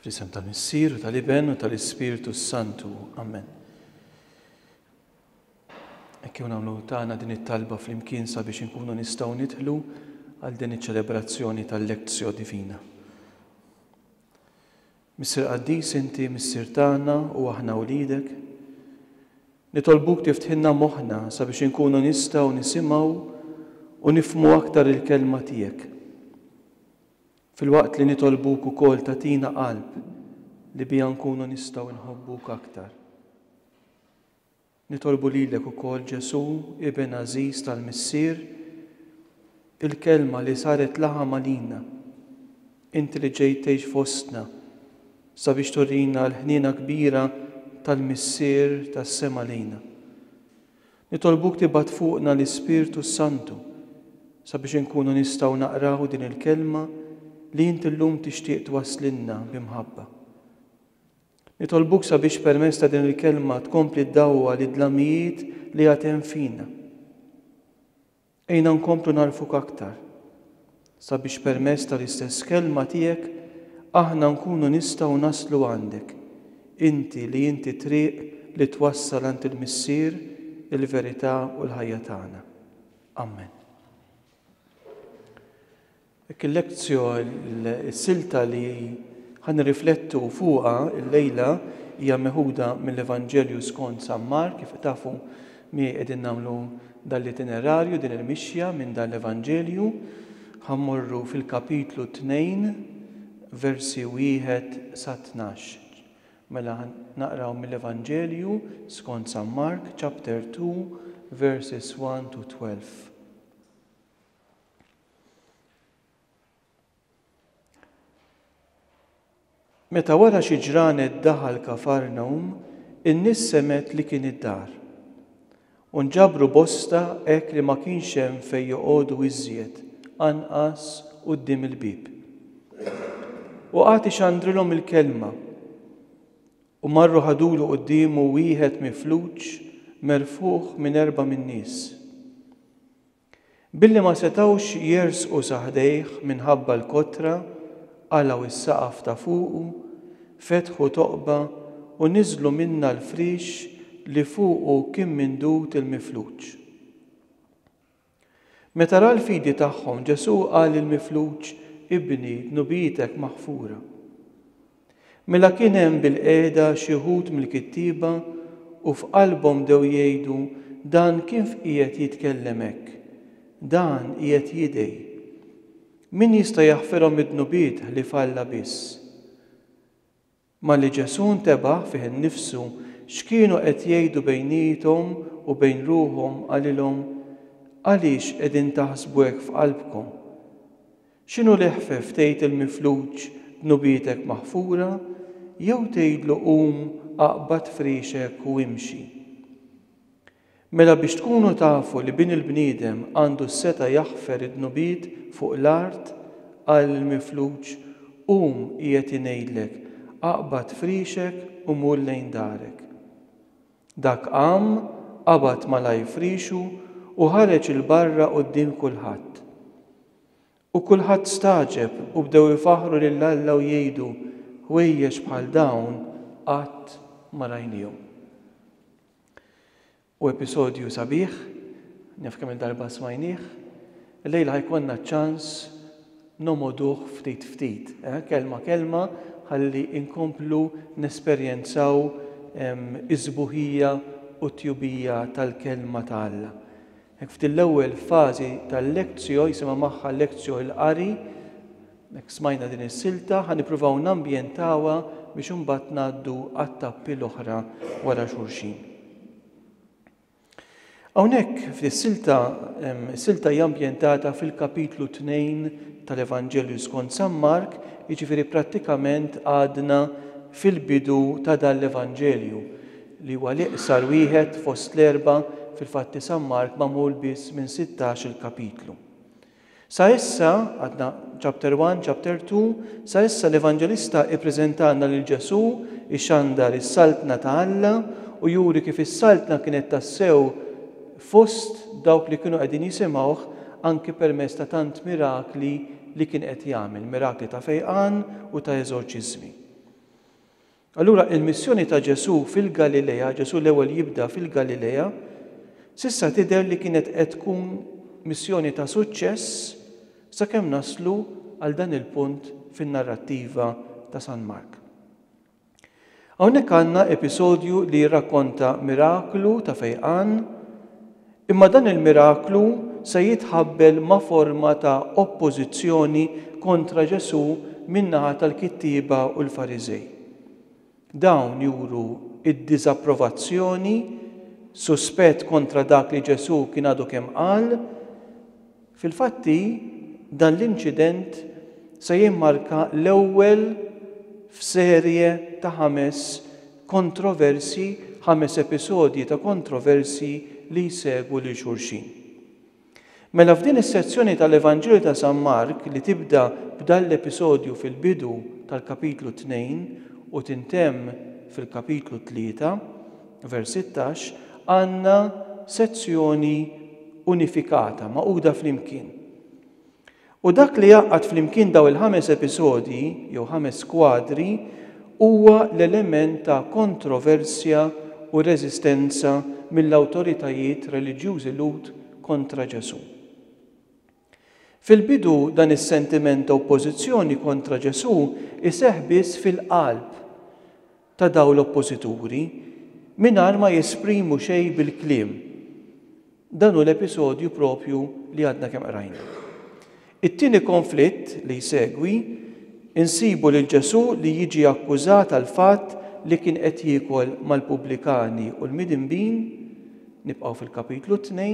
Fl-isem tal-Missier, tal-Iben u tal-Ispirtu Santu. Amen. Ekkew nagħmlu tagħna din it-talba flimkien sabiex inkunu nistgħu nidħlu għal din iċ-ċelebrazzjoni tal-Lezzjo Divina. Missier Qaddis inti Missier tagħna u aħna wliedek. Nitolbuk tiftħilna moħħna sabiex inkunu nistgħu nisimgħu u nifhmu aktar il-Kelma tiegħek. Filwaqt li nitolbuk ukoll tagħtina qalb li biha nkunu nistgħu nħobbuk aktar. Nitolbu lilek ukoll, Ġesù, Iben għażiż tal-Missier, il-Kelma li saret laħam għalina, Inti li ġejt tgħix fostna sabiex turina l-ħniena kbira tal-Missier tas-sema lejna. Nitolbuk tibgħat fuqna l-Ispirtu s-Santu sabiex inkunu nistgħu naqraw din il-Kelma li Inti llum tixtieq twasslilna bi mħabba. Nitolbuk sabiex permezz ta' din il-Kelma tkompli ddawwal id-dlamijiet li għad hemm fina. Għinna nkomplu nagħrfuk aktar, sabiex permezz tal-istess Kelma tiegħek aħna nkunu nistgħu naslu għandek, inti li inti t-triq li twassal għand il-Missier, il-verità u l-ħajja tagħna. Amen. Dik il-lezzjon, is-silta li ħa nirriflettu fuqha llejla hija meħuda mill-Evanġelju skont San Mark. Kif tafu, miegħi qegħdin nagħmlu dan l-itinerarju, din il-mixja minn dan l-Evanġelju. Ħa mmorru fil-kapitlu 2, versi 1 sa 12. Mela ħa naqraw mill-Evanġelju skont San Mark, chapter 2, verses 1 to 12. Meta wara xi ġranet daħal Kafarnawm, in-nies semgħet li kien id-dar. U nġabru bosta hekk li ma kienx hemm fejn joqogħdu iżjed anqas quddiem il-bieb. U qagħad ixandrilhom il-kelma. U marru ħadulu quddiemu wieħed mifluġ merfugħ minn erba' min-nies. Billi ma setgħux jersqu sa ħdejh minħabba l-kotra, qalgħu s-saqaf ta' fuqu, fetħu toqba u niżlu minnha l-friex li fuqu kien mindud il-mifluġ. Meta ra l-fidi tagħhom, Ġesù qal lill-mifluġ, Ibni, dnubietek maħfura. Mela kien hemm bilqiegħda xi wħud mill-kittieba u f'qalbhom bdew jgħidu, Dan kif qiegħed jitkellem hekk? Dan qiegħed jidgħi. Min jista' jaħfirhom id-dnubiet ħlief Alla biss? Malli Ġesù ntebaħ fih innifsu x'kienu qed jgħidu bejniethom u bejn ruħhom qalilhom, Għaliex qegħdin taħsbu hekk f'qalbkom? X'inhu l-iħfef tgħid il-mifluġ dnubietek maħfura jew tgħidlu qum aqbad frixek u imxi? Mela biex tkunu tafu li Bin il-bniedem għandu s-setgħa jaħfer id-dnubiet fuq l-art, qal lill-mifluġ, Qum, qiegħed ngħidlek, aqbad frixek u mur lejn darek. Dak qam, qabad malajr frixu u ħareġ 'il barra quddiem kulħadd. U kulħadd stagħġeb u bdew ifaħħru lil Alla u jgħidu, Ħwejjeġ bħal dawn qatt ma rajnihom. U episodju sabiħ, naf kemm-il darba smajnih, illejla ħa jkollna ċ-ċans nogħmoduh ftit ftit, kelma kelma ħalli nkomplu nesperjenzaw is-sbuħija u t-tjubija tal-Kelma ta' Alla. Hekk f'din l-ewwel fażi tal-lectio, jisimha magħha lectio il-qari, hekk smajna din is-silta, ħa nippruvaw nambjentawha biex imbagħad ngħaddu għat-tappi l-oħra wara xulxin. Hawnhekk f'dis-silta, is-silta hija ambjentata fil-kapitlu 2 tal-Evanġelju skont San Mark, jiġifieri prattikament għadna fil-bidu ta' dan l-Evanġelju. li huwa l-iqsar wieħed fost l-erbgħa fil-fatt li San Mark magħmul biss minn sittax-il kapitlu. Sa issa, għadna Chapter One, Chapter Two, sa issa l-Evanġelista ippreżentalna lil Ġesù ixandar is-Saltna ta' Alla u juri kif is-Saltna kienet tassew fost dawk li kienu qegħdin jisimgħuh anki permezz ta' tant mirakli li kien qed jagħmel, mirakli ta' fejqan u ta' eżorċiżmi. Allura il-missjoni ta' Ġesù fil-Galilea, Ġesù l-ewwel jibda fil-Galilea, s'issa tidher li kienet qed tkun missjoni ta' suċċess sakemm naslu għal dan il-punt fin-narrattiva ta' San Mark. Hawnhekk għandna episodju li jirrakkonta miraklu ta' fejqan Imma dan il-miraklu se jitħabbel ma' forma ta' oppożizzjoni kontra Ġesù min-naħa tal-kittieba u l-Fariżej. Dawn juru d-diżapprovazzjoni, suspett kontra dak li Ġesù kien għadu kemm qal, Fil-fatti, dan l-inċident se jimmarka l-ewwel f'serje ta' ħames kontroversji, ħames episodji ta' kontroversji li jsegwu lil xulxin. Mela f'din is-sezzjoni tal-Evanġelju ta' San Mark li tibda b'dan l-episodju fil-bidu tal-kapitlu tnejn u tintemm fil-kapitlu tlieta, Vers 16, Għandna sezzjoni unifikata, magħquda flimkien. U dak li jgħaqqad flimkien daw il-ħames episodji, jew ħames skwadri, huwa l-element ta' kontroversja u reżistenza mill-awtoritajiet reliġjużi Lhud kontra Ġesù. Fil-bidu dan is-sentiment ta' oppożizzjoni kontra Ġesù iseħħ biss fil-qalb ta' dawn l-oppożituri, mingħajr ma jesprimu xejn bil-kliem. Dan hu l-episodju proprju li għadna kemm qrajna. It-tieni konflitt li jsegwi, insibu lil Ġesù li jiġi akkużat għall-fatt li kien qed jiekol mal-pubblikani u l-midinbin, nibqgħu fil-Kapitlu 2,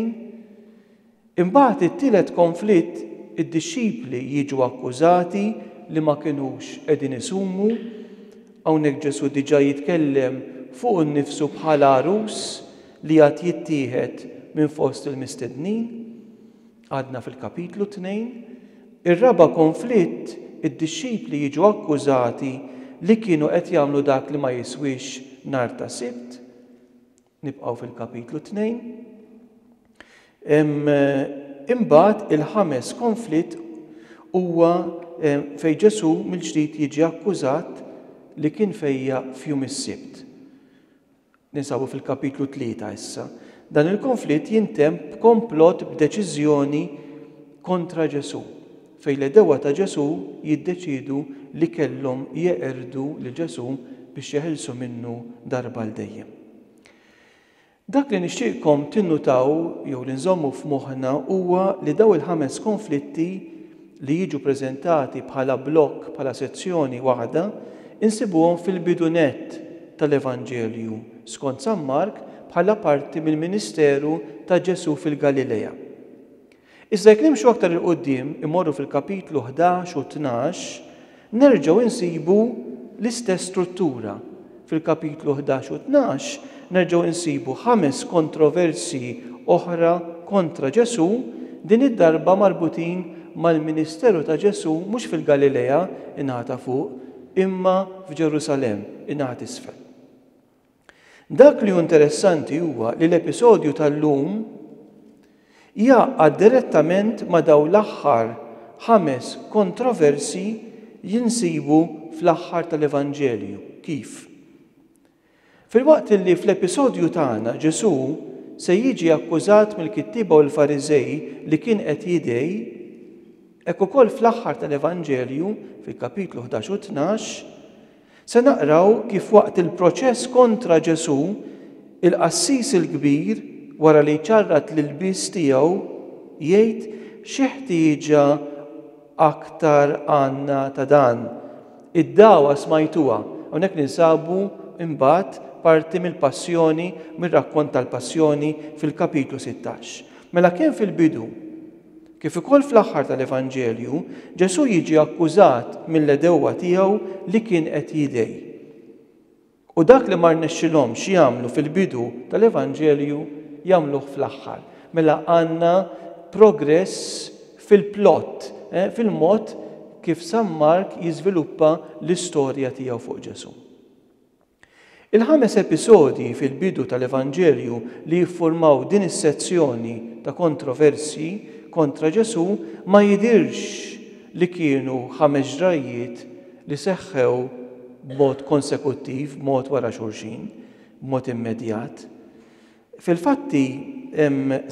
Imbagħad it-tielet konflitt, id-dixxipli jiġu akkużati li ma kinux qegħdin isumu. Hawnhekk Ġesù diġà jitkellem fuqu nnifsu bħala għarus li għad jittieħed minn fost il-mistednin. Għadna fil-kapitlu tnejn. Ir-raba' konflitt, id-dixxipli jiġu akkużati li kienu qed jagħmlu dak li ma jiswiex nhar ta' Sibt. Nibqgħu fil-Kapitlu Tnejn. Imbagħad il-ħames konflitt huwa fejn Ġesù mill-ġdid jiġi akkużat li kien fejja f'jum is-Sibt. Ninsabu fil-Kapitlu Tlieta issa. Dan il-konflitt jintemm b'komplott b'deċiżjoni kontra Ġesù. fejn l-għedewwa ta' Ġesù jiddeċiedu li kellhom jeqirdu lil Ġesù biex jeħilsu minnu darba għal dejjem. Dak li nixtieqkom tinnutaw jew li nżommu f'moħħna huwa li dawn il-ħames konflitti li jiġu preżentati bħala blokk, bħala sezzjoni waħda, insibuhom fil-bidu nett tal-Evanġelju skont San Mark bħala parti mill-ministeru ta' Ġesù fil-Galilea. Iżda jekk nimxu aktar 'il quddiem, immorru fil-kapitlu ħdax u tnax, nerġgħu insibu l-istess struttura. Fil-kapitlu ħdax u tnax nerġgħu insibu ħames kontroversji oħra kontra Ġesù, din id-darba marbutin mal-ministeru ta' Ġesù mhux fil-Galilea, in-naħa ta' fuq, imma f'Ġerusalemm, in-naħa t'isfel. Dak li hu interessanti huwa li l-episodju tal-lum jgħaqqad direttament ma' dawn l-aħħar ħames kontroversji li nsibu fl-aħħar tal-Evanġelju. Kif? Filwaqt li fl-episodju tagħna Ġesù se jiġi akkużat mill-kittieba u l-Fariżej li kien qed jidgħi, hekk ukoll fl-aħħar tal-Evanġelju, fil-kapitlu 11 u 12, Se naqraw kif waqt il-proċess kontra Ġesù, il-qassis il-kbir, wara li jċarrat l-ilbies tiegħu, jgħid xi ħtieġa aktar għandna ta' dan. Id-dagħwa smajtuha. Hawnhekk ninsabu imbagħad parti mill-passjoni, mir-rakkont tal-passjoni fil-kapitlu sittax. Mela kemm fil-bidu, Kif ukoll fl-aħħar tal-Evanġelju, Ġesù jiġi akkużat mill-għedewwa tiegħu li kien qed jidgħi. U dak li ma rnexxilhomx jagħmlu fil-bidu tal-Evanġelju jagħmluh fl-aħħar. Mela għandna progress fil-plot, eh, fil-mod kif San Mark jiżviluppa l-istorja tiegħu fuq Ġesù. Il-ħames episodji fil-bidu tal-Evanġelju li jiffurmaw din is-sezzjoni ta' kontroversji kontra Ġesù ma jidhirx li kienu ħames ġrajjiet li seħħew b'mod konsekuttiv, b'mod wara xulxin, b'mod immedjat. Fil-fatti,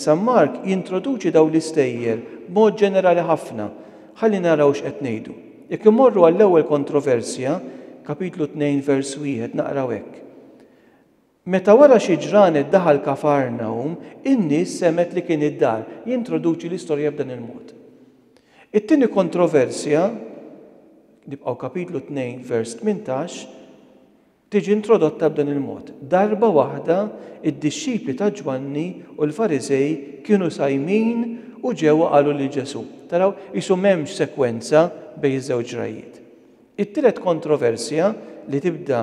San Mark jintroduċi dawn l-istejjer b'mod ġenerali ħafna. Ħalli naraw x'qed ngħidu. Jekk immorru għall-ewwel kontroversja, Kapitlu 2 vers 1, naqraw hekk, Meta wara xi ġranet daħal Kafarnawm, in-nies semgħet li kien id-dar. Jintroduċi l-istorja b'dan il-mod. It-tieni kontroversja, nibqgħu Kapitlu 2 vers 18, tiġi introdotta b'dan il-mod, Darba waħda d-dixxipli ta' Ġwanni u l-Fariżej kienu sajmin u ġew u qalu lil Ġesù. Taraw, qisu m'hemmx sekwenza bejn iż-żewġ rajiet. It-tielet kontroversja li tibda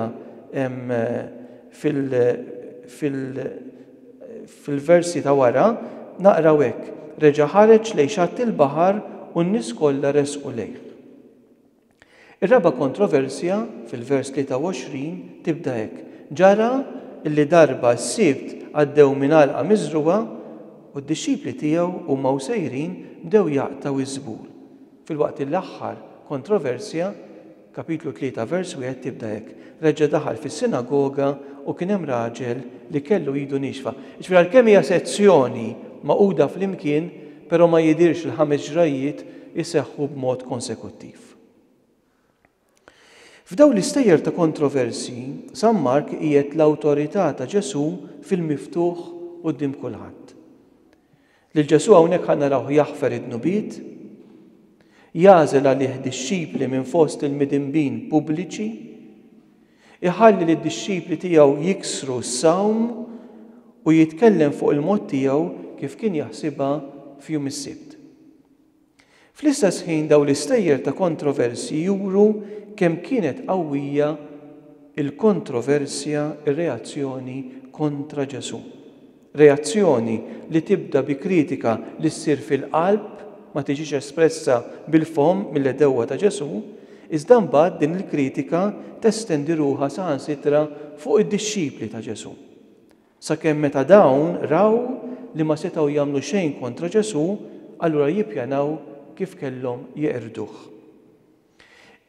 fil-versi ta' wara, naqraw hekk, Reġa' ħareġ lejn xatt il-baħar u n-nies kollha resqu lejh. Ir-raba' kontroversja, fil-vers 23, tibda hekk, Ġara li darba s-Sibt għaddew minn għalqa miżrugħa, u d-dixxipli tiegħu huma u sejrin bdew jaqtgħu ż-żbul, filwaqt li l-aħħar kontroversja, Kapitlu 3, vers 1, tibda hekk, Reġa' daħal fis-sinagoga u kien hemm raġel li kellu idu niexfa. Jiġifieri għalkemm hija sezzjoni magħquda flimkien, Però ma jidhirx li ħames ġrajjiet iseħħu b'mod konsekuttiv. F'dawn l-istejjer ta' kontroversji, San Mark qiegħed l-awtorità ta' Ġesù fil-miftuħ quddiem kulħadd. Lil Ġesù hawnhekk ħa narawh jaħfer id-dnubiet, jagħżel għalih dixxipli minn fost il-midinbin pubbliċi, Iħalli lid-dixxipli tiegħu jiksru s-sawm u jitkellem fuq il-mod tiegħu kif kien jaħsibha f'jum is-Sibt. Fl-istess ħin dawn l-istejjer ta' kontroversji juru kemm kienet qawwija l-kontroversja, ir-reazzjoni, kontra Ġesù. Reazzjoni li tibda bi kritika li ssir fil-qalb, ma tiġix espressa bil-fomm mill-għedewwa ta' Ġesù, iżda mbagħad din il-kritika testendi ruħha saħansitra fuq id-dixxipli ta' Ġesù. Sakemm meta dawn raw li ma setgħu jagħmlu xejn kontra Ġesù, allura jippjanaw kif kellhom jeqirduh.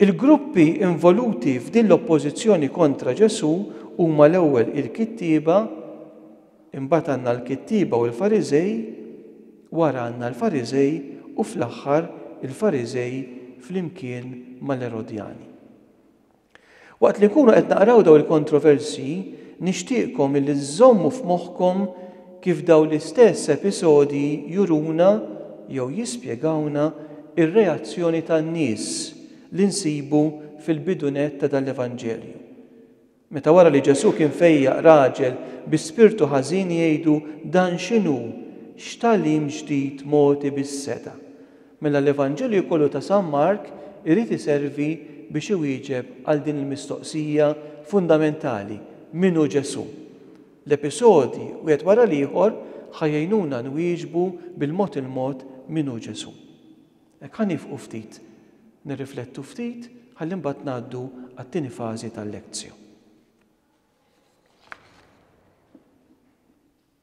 Il-gruppi involuti f'din l-oppożizzjoni kontra Ġesù huma l-ewwel il-kittieba, imbagħad għandna l-kittieba u l-Fariżej, wara għandna l-Fariżej u fl-aħħar il-Fariżej flimkien mal-Erodjani. Waqt li nkunu qed naqraw dawn il-kontroversji, nixtieqkom illi żżommu f'moħħkom kif dawn l-istess episodji juruna jew jispjegawna r-reazzjoni tan-nies li nsibu fil-bidu nett ta' dan l-Evanġelju. Meta wara li Ġesù kien fejjaq raġel bi spirtu ħażin jgħidu dan x'inhu, x'tagħlim ġdid mogħti bis-setgħa? Mela l-Evanġelju kollu ta' San Mark irid iservi biex iwieġeb għal din il-mistoqsija fundamentali, Min hu Ġesù? L-episodji, wieħed wara l-ieħor, ħa jgħinuna nwieġbu bil-mod il-mod min hu Ġesù. Hekk ħa niefqu ftit, nirriflettu ftit ħalli mbagħad ngħaddu għat-tieni fażi tal-Lectio.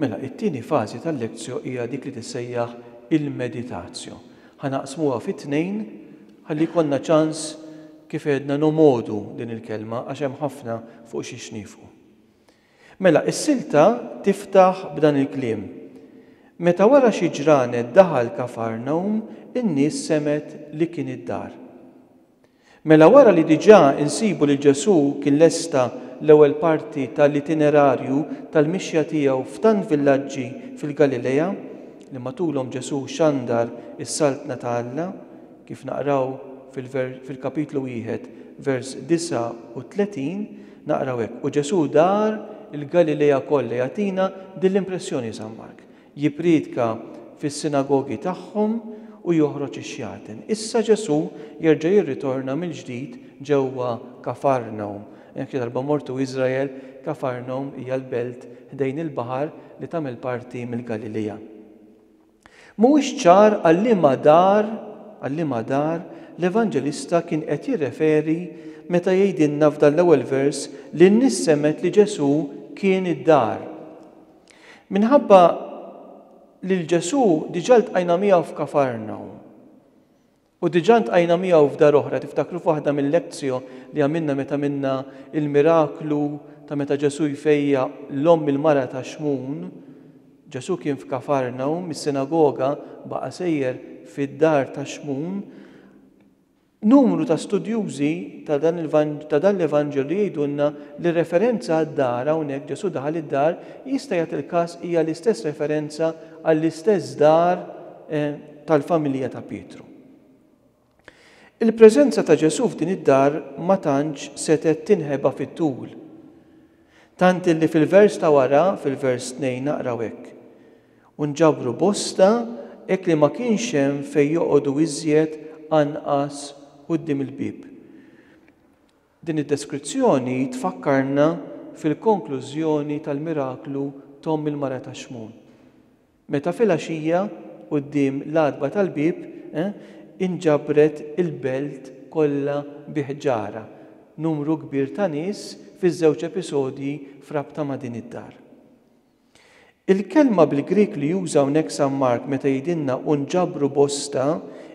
Mela, it-tieni fażi tal-lectio hija dik li tissejjaħ il-meditatio. Ħa naqsmuha fi tnejn ħalli jkollna ċans kif għedna nomgħodu din il-kelma għax hemm ħafna fuq xiex niefqu. Mela, is-silta tiftaħ b'dan il-kliem, Meta wara xi ġranet daħal Kafarnaum, in-nies semgħet li kien id-dar. Mela wara li diġà insibu li Ġesù kien lesta l-ewwel parti ta' l-itinerarju tal-mixja tiegħu f'tant villaġġi fil-Galilea, li matulhom Ġesù xandar is-Saltna ta' Alla, kif naqraw fil-kapitlu wieħed, vers 39, naqraw hekk, U Ġesù dar il-Galilea kollha jagħtina din l-impressjoni San Mark. Jippriedka fis-sinagogi tagħhom u joħroġ ix-xjaten. Issa Ġesù jerġa' jirritorna mill-ġdid ġewwa Kafarnawm. Jekk xi darba mortu Iżrael, Kafarnawm hija l-belt ħdejn il-baħar li tagħmel parti mill-Galilija. Mhuwiex ċar għal liema dar għal liema dar l-Evanġelista kien qed jirreferi meta jgħidilna f'dan l-ewwel vers li n-nies semgħet li Ġesù kien id-dar. Minħabba lil Ġesù diġà ltqajna miegħu f'Kafarnaw. U diġà ltqajna miegħu f'dar oħra, tiftakru f'waħda mill-lezzjo li għamilna meta minna il-miraklu ta' meta Ġesù jfejja l-omm il-mara ta' Xmun, Ġesù kien f'Kafarnaw, mis-sinagoga baqa' sejjer fid-dar ta' Xmun, Numru ta' studjużi ta' dan l-Evanġelju jgħidulna li r-referenza għad-dar hawnhekk Ġesù daħal id-dar jista' jagħti l-każ hija l-istess referenza għall-istess dar tal-familja ta' Pietru. Il-preżenza ta' Ġesù f'din id-dar ma tantx setgħet tinħeba fit-tul, tant illi fil-vers ta' wara, fil-vers 2 naqraw hekk, u nġabru bosta hekk li ma kienx hemm fejn joqogħdu iżjed anqas quddiem il-bieb. Din id-deskrizzjoni tfakkarna fil-konklużjoni tal-miraklu t'omm il-mara ta' Xmun. Meta filgħaxija, quddiem l-għatba tal-bieb, inġabret il-belt kollha bi ħġarha, numru kbir ta' nies fiż-żewġ episodji f'rabta ma' din id-dar. Il-kelma bil-Grieg li juża hawnhekk San Mark meta jgħidilna u nġabru bosta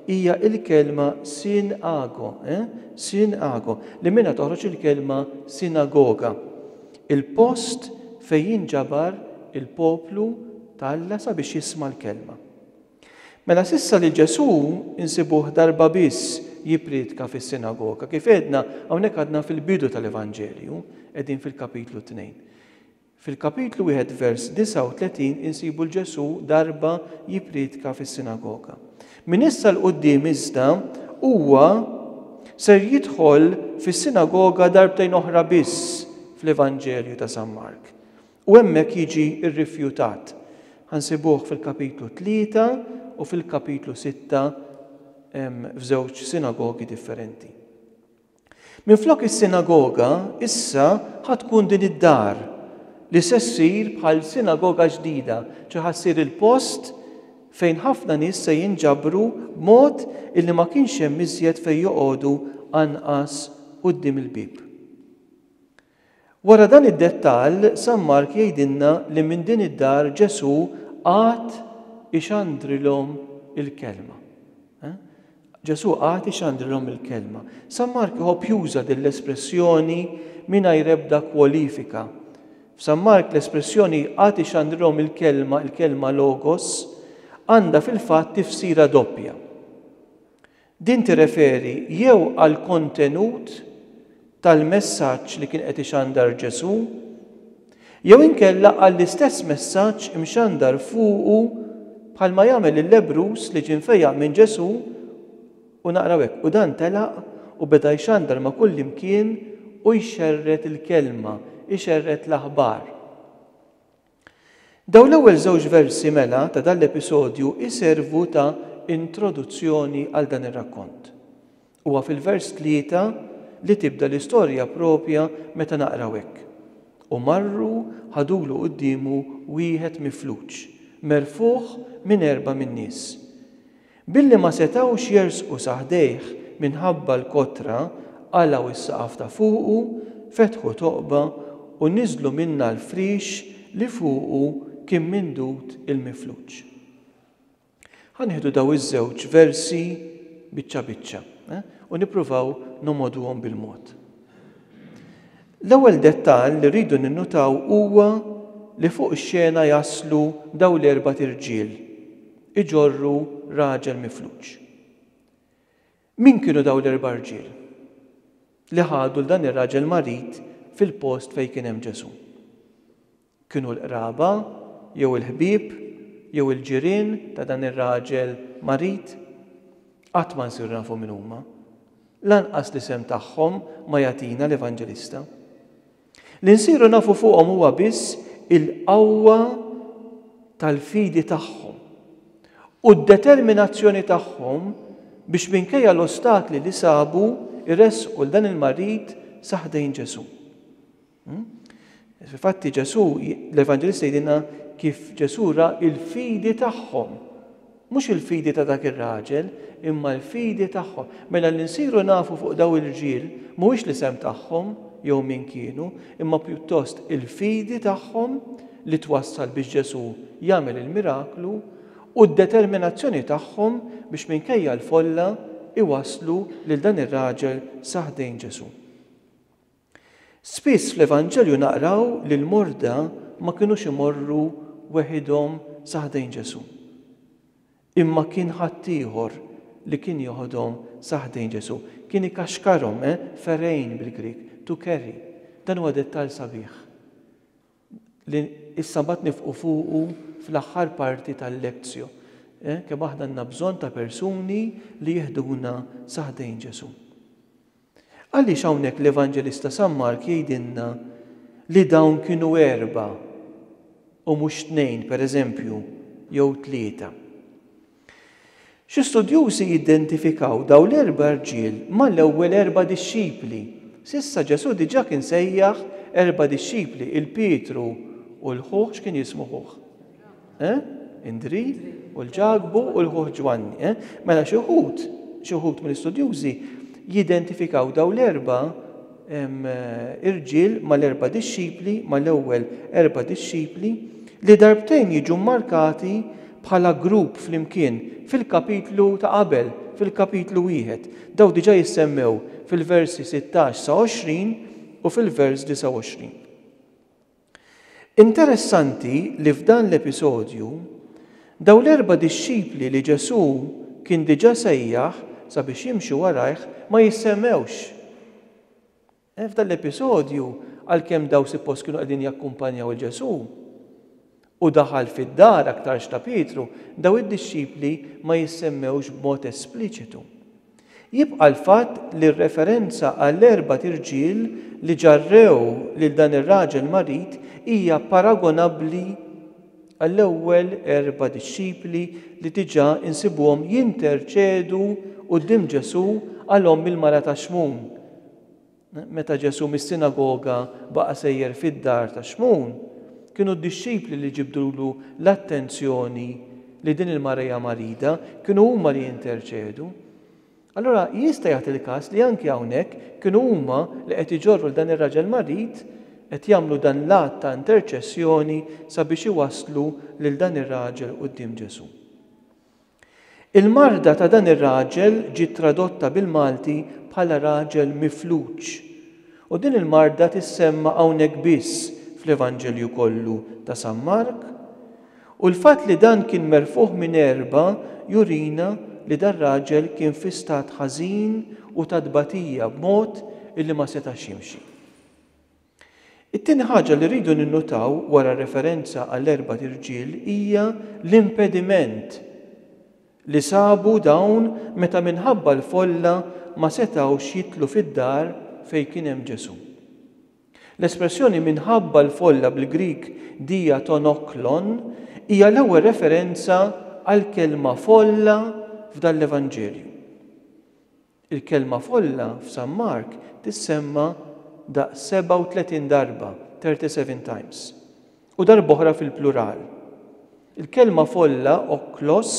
hija l-kelma syn ago, eh? syn ago, li minnha toħroġ il-kelma sinagoga, il-post fejn jinġabar il-poplu ta' Alla sabiex jisma' l-kelma. Mela s'issa lil Ġesù nsibuh darba biss jipprietka fis-sinagoga. Kif għedna, hawnhekk għadna fil-bidu tal-Evanġelju, qegħdin fil-kapitlu tnejn. Fil-Kapitlu wieħed vers 39 insibu 'l Ġesù darba jipprietka fis-sinagoga. Minn issa 'l quddiem iżda huwa ser jidħol fis-sinagoga darbtejn oħra biss fl-Evanġelju ta' San Mark u hemmhekk jiġi rrifjutat. Ħa nsibuh fil-Kapitlu tlieta u fil-Kapitlu sitta f'żewġ sinagogi differenti. Minflok is-sinagoga, issa ħa tkun din id-dar, li se ssir bħal sinagoga ġdida, ċe ħa ssir il-post fejn ħafna nies se jinġabru b'mod illi ma kienx hemm iżjed fejn joqogħdu anqas quddiem il-bieb. Wara dan id-dettall, San Mark jgħidilna li minn din id-dar Ġesù qagħad ixandrilhom il-Kelma. Ġesù qagħad ixandrilhom il-Kelma. San Mark iħobb juża din l-espressjoni mingħajr ebda kwalifika. F'San Mark l-espressjoni qagħad ixandrilhom il-Kelma, il-Kelma Logos, għandha fil-fatt tifsira doppja. Din tirreferi jew għall-kontenut tal-messaġġ li kien qed ixandar Ġesù, jew inkella għall-istess messaġġ imxandar fuqu bħalma jagħmel il-lebbruż li ġie mfejjaq minn Ġesù, u naqraw hekk, U dan telaq u beda jxandar ma' kullimkien u jxerred il-kelma, ixerred l-aħbar. Dawn l-ewwel żewġ versi mela ta' dan l-episodju jservu ta' introduzzjoni għal dan ir-rakkont. Huwa fil-vers tlieta li tibda l-istorja proprja meta naqraw hekk, U marru ħadulu quddiemu wieħed mifluġ, merfugħ minn erba' min-nies. Billi ma setgħux jersqu sa ħdejh minħabba l-kotra, qalgħu s-saqaf ta' fuqu, fetħu toqba, u niżlu minnha l-friex li fuqu kien mindud il-mifluġ. Ħa nieħdu dawn iż-żewġ versi biċċa biċċa, u nippruvaw nogħmoduhom bil-mod. L-ewwel dettall li rridu ninnutaw huwa li fuq ix-xena jaslu dawn l-erbat irġiel, iġorru raġel mifluġ. Min kienu dawn l-erba' rġiel li ħadu 'l dan ir-raġel marid fil-post fejn kien hemm Ġesù? Kienu l-qraba jew il-ħbieb jew il-ġirien ta' dan ir-raġel marid? Qatt ma nsiru nafu min huma. Lanqas l-isem tagħhom ma jagħtina l-Evanġelista. Li nsiru nafu fuqhom huwa biss il-qawwa tal-fidi tagħhom u d-determinazzjoni tagħhom biex minkejja l-ostakli li sabu jressqu 'l dan il-marid sa ħdejn Ġesù. Hmm? Fil-fatti Ġesù, l-Evanġelista jgħidilna kif Ġesù ra il-fidi tagħhom. Mhux il-fidi ta' dak ir-raġel, imma l-fidi tagħhom. Mela li nsiru nafu fuq dawn il-rġiel mhuwiex l-isem tagħhom jew min kienu, imma pjuttost il-fidi tagħhom li twassal biex Ġesù jagħmel il-miraklu u d-determinazzjoni tagħhom biex minkejja l-folla iwasslu lil dan ir-raġel sa ħdejn Ġesù. Spiss fl-Evanġelju naqraw li l-morda ma kinux imorru weħidhom sa ħdejn Ġesù. Imma kien ħaddieħor li kien joħodhom sa ħdejn Ġesù. Kien ikaxkarhom, eh, pherein bil-Grieg, to carry. Dan huwa dettall sabiħ li issa mbagħad nifqu fuqu fl-aħħar parti tal-Lectio. Eh, kemm aħna għandna bżonn ta' persuni li jiħduna sa ħdejn Ġesù. Għaliex hawnhekk l-Evanġelista San Mark jgħidilna li dawn kienu erbgħa u mhux tnejn, pereżempju, jew tlieta? Xi studjużi jidentifikaw dawn l-erba' rġiel mal-ewwel erba' dixxipli. S'issa Ġesù diġà kien sejjaħ erba' dixxipli 'l Pietru u 'l ħuh, x'kien jismu ħuh? Eh? Indri u l-ġagbu u l-ħuħ Ġwanni. Eh? Mela xi wħud, xi wħud mill-istudjużi jidentifikaw daw l-erba' eh, irġiel mal-erba' dixxipli, mal-ewwel erba' dixxipli, li darbtejn jiġu markati bħala grupp flimkien fil-kapitlu ta' qabel, fil-kapitlu wieħed. Daw diġà jissemmew fil-versi 16 sa 20 u fil-vers 29. Interessanti li f'dan l-episodju, dawn l-erba' dixxipli li Ġesù kien diġà sejjaħ sabiex jimxu warajh ma jissemmewx. Eh, f'dan l-episodju, għalkemm dawn suppost kienu qegħdin jakkumpanjaw 'il Ġesù, u daħal fid-dar aktarx ta' Pietru, dawn id-dixxipli ma jissemmewx b'mod espliċitu. Jibqa' l-fatt li r-referenza għall-erbat irġiel li ġarrew lil dan ir-raġel marid hija paragonabbli għall-ewwel erba' dixxipli li diġà nsibuhom jinterċedu quddiem Ġesù għal omm il-mara ta' Xmun, Meta Ġesù mis-sinagoga baqa' sejjer fid-dar ta' Xmun, kienu d-dixxipli li ġibdulu l-attenzjoni li din il-mara hija marida, kienu huma li jinterċedu. Allura jista' jagħti il-każ li anki hawnhekk kienu huma li qed iġorru 'l dan ir-raġel marid, qed jagħmlu dan l-att ta' interċessjoni sabiex iwasslu lil dan ir-raġel quddiem Ġesù. Il-marda ta' dan ir-raġel ġiet tradotta bil-Malti bħala raġel mifluġ. U din il-marda tissemma hawnhekk biss fl-Evanġelju kollu ta' San Mark. U l-fatt li dan kien merfugħ minn erba' jurina li dar-raġel kien fi stat ħażin u ta' tbatija b'mod illi ma setax jimxi. It-tieni ħaġa li rridu ninnutaw wara r-referenza għall-erbat irġiel hija l-impediment li sabu dawn meta minħabba l-folla ma setgħux jidħlu fid-dar fejn kien hemm Ġesù. L-espressjoni minħabba l-folla bil-Grieg dia ton oklon hija l-ewwel referenza għall-kelma folla f'dan l-Evanġelju. Il-kelma folla f'San Mark tissemma daqs 37 darba, thirty seven times, u darb'oħra fil-plural. Il-kelma folla, okklos,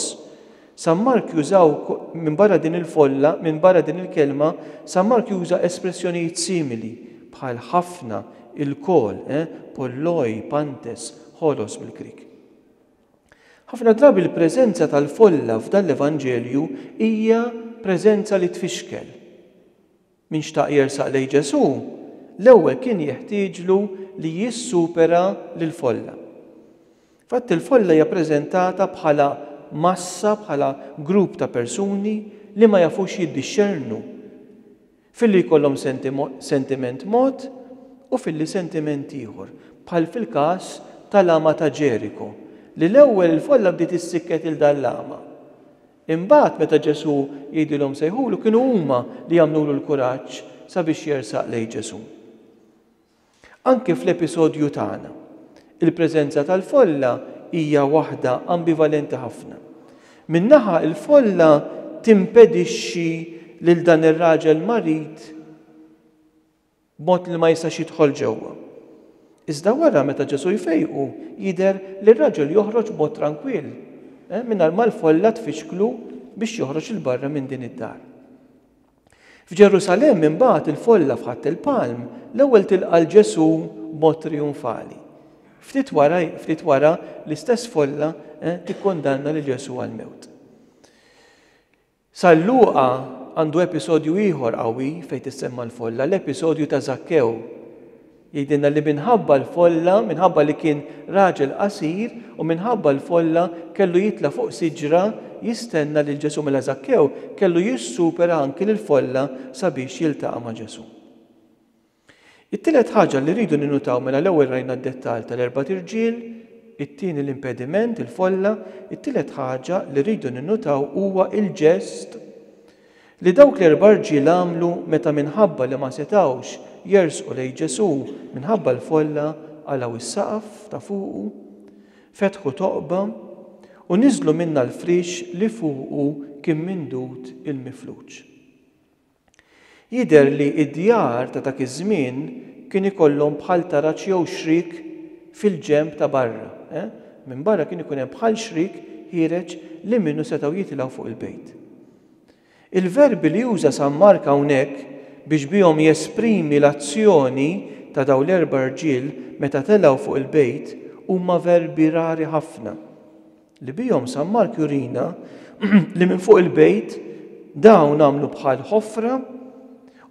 San Mark jużaw minbarra din il-folla, minbarra din il-kelma, San Mark juża espressjonijiet simili, bħal ħafna, ilkoll, eh, polloi, pantes, holos bil-Grieg. Ħafna drabi l-preżenza tal-folla f'dan l-Evanġelju hija preżenza li tfixkel. Min xtaq jersaq lejn Ġesù, l-ewwel kien jeħtieġlu li jissupera lill-folla. F'fatt il-folla hija preżentata bħala massa, bħala grupp ta' persuni li ma jafux jiddixxernu. Filli jkollhom sentiment mod u filli sentiment ieħor, bħal fil-każ tal-agħma ta' Ġeriko, li l-ewwel il-folla bdiet issikket lil dan l-agħma. Imbagħad meta Ġesù jgħidilhom sejħulu kienu huma li għamlulu l-kuraġġ sabiex jersaq lejn Ġesù. Anki fl-episodju tagħna, il-preżenza tal-folla hija waħda ambivalenti ħafna. Minn naħa, il-folla timpedixxi lil dan ir-raġel marid b'mod li ma jistax jidħol ġewwa. Iżda wara meta Ġesù jfejqu, jidher li r-raġel joħroġ b'mod trankwill, eh, mingħajr ma l-folla tfixklu biex joħroġ il barra minn din id-dar. F'Ġerusalemm imbagħad il-folla f'Ħadd il-Palm l-ewwel tilqa' 'l Ġesù b'mod triunfali. Ftit wara, ftit wara, l-istess folla tikkundanna lil Ġesù għall-mewt. San Luqa għandu episodju ieħor qawwi fejn tissemma l-folla, l-episodju ta' Żakkew. Jgħidilna li minħabba l-folla, minħabba li kien raġel qasir u minħabba l-folla kellu jitla' fuq siġra jistenna lil Ġesù. Mela Żakkew kellu jissupera anki lill-folla sabiex jiltaqa' ma' Ġesù. It-tielet ħaġa li rridu ninnutaw mela l-ewwel rajna d-dettall tal-erbat irġiel, it-tieni l-impediment, il-folla, it-tielet ħaġa li rridu ninnutaw huwa l-ġest Li dawk l-erba' rġiel għamlu meta minħabba li ma setgħux jersqu lejn Ġesù minħabba l-folla qalgħu s-saqaf ta' fuqu, fetħu toqba, u niżlu minnha l-frix li fuqu kien mindud il-mifluġ. Jidher li d-djar ta' dak iż-żmien kien ikollhom bħal taraġ jew xrik fil-ġenb ta' barra, eh, minn barra kien ikun hemm bħal xrik ħiereġ li minnu setgħu jitilgħu fuq il-bejt. Il-verbi li uża San Mark hawnhekk biex bihom jesprimi l-azzjoni ta' dawn l-erba' rġiel meta telgħu fuq il-bejt huma verbi rari ħafna, li bihom San Mark jurina li minn fuq il-bejt dawn għamlu bħal ħofra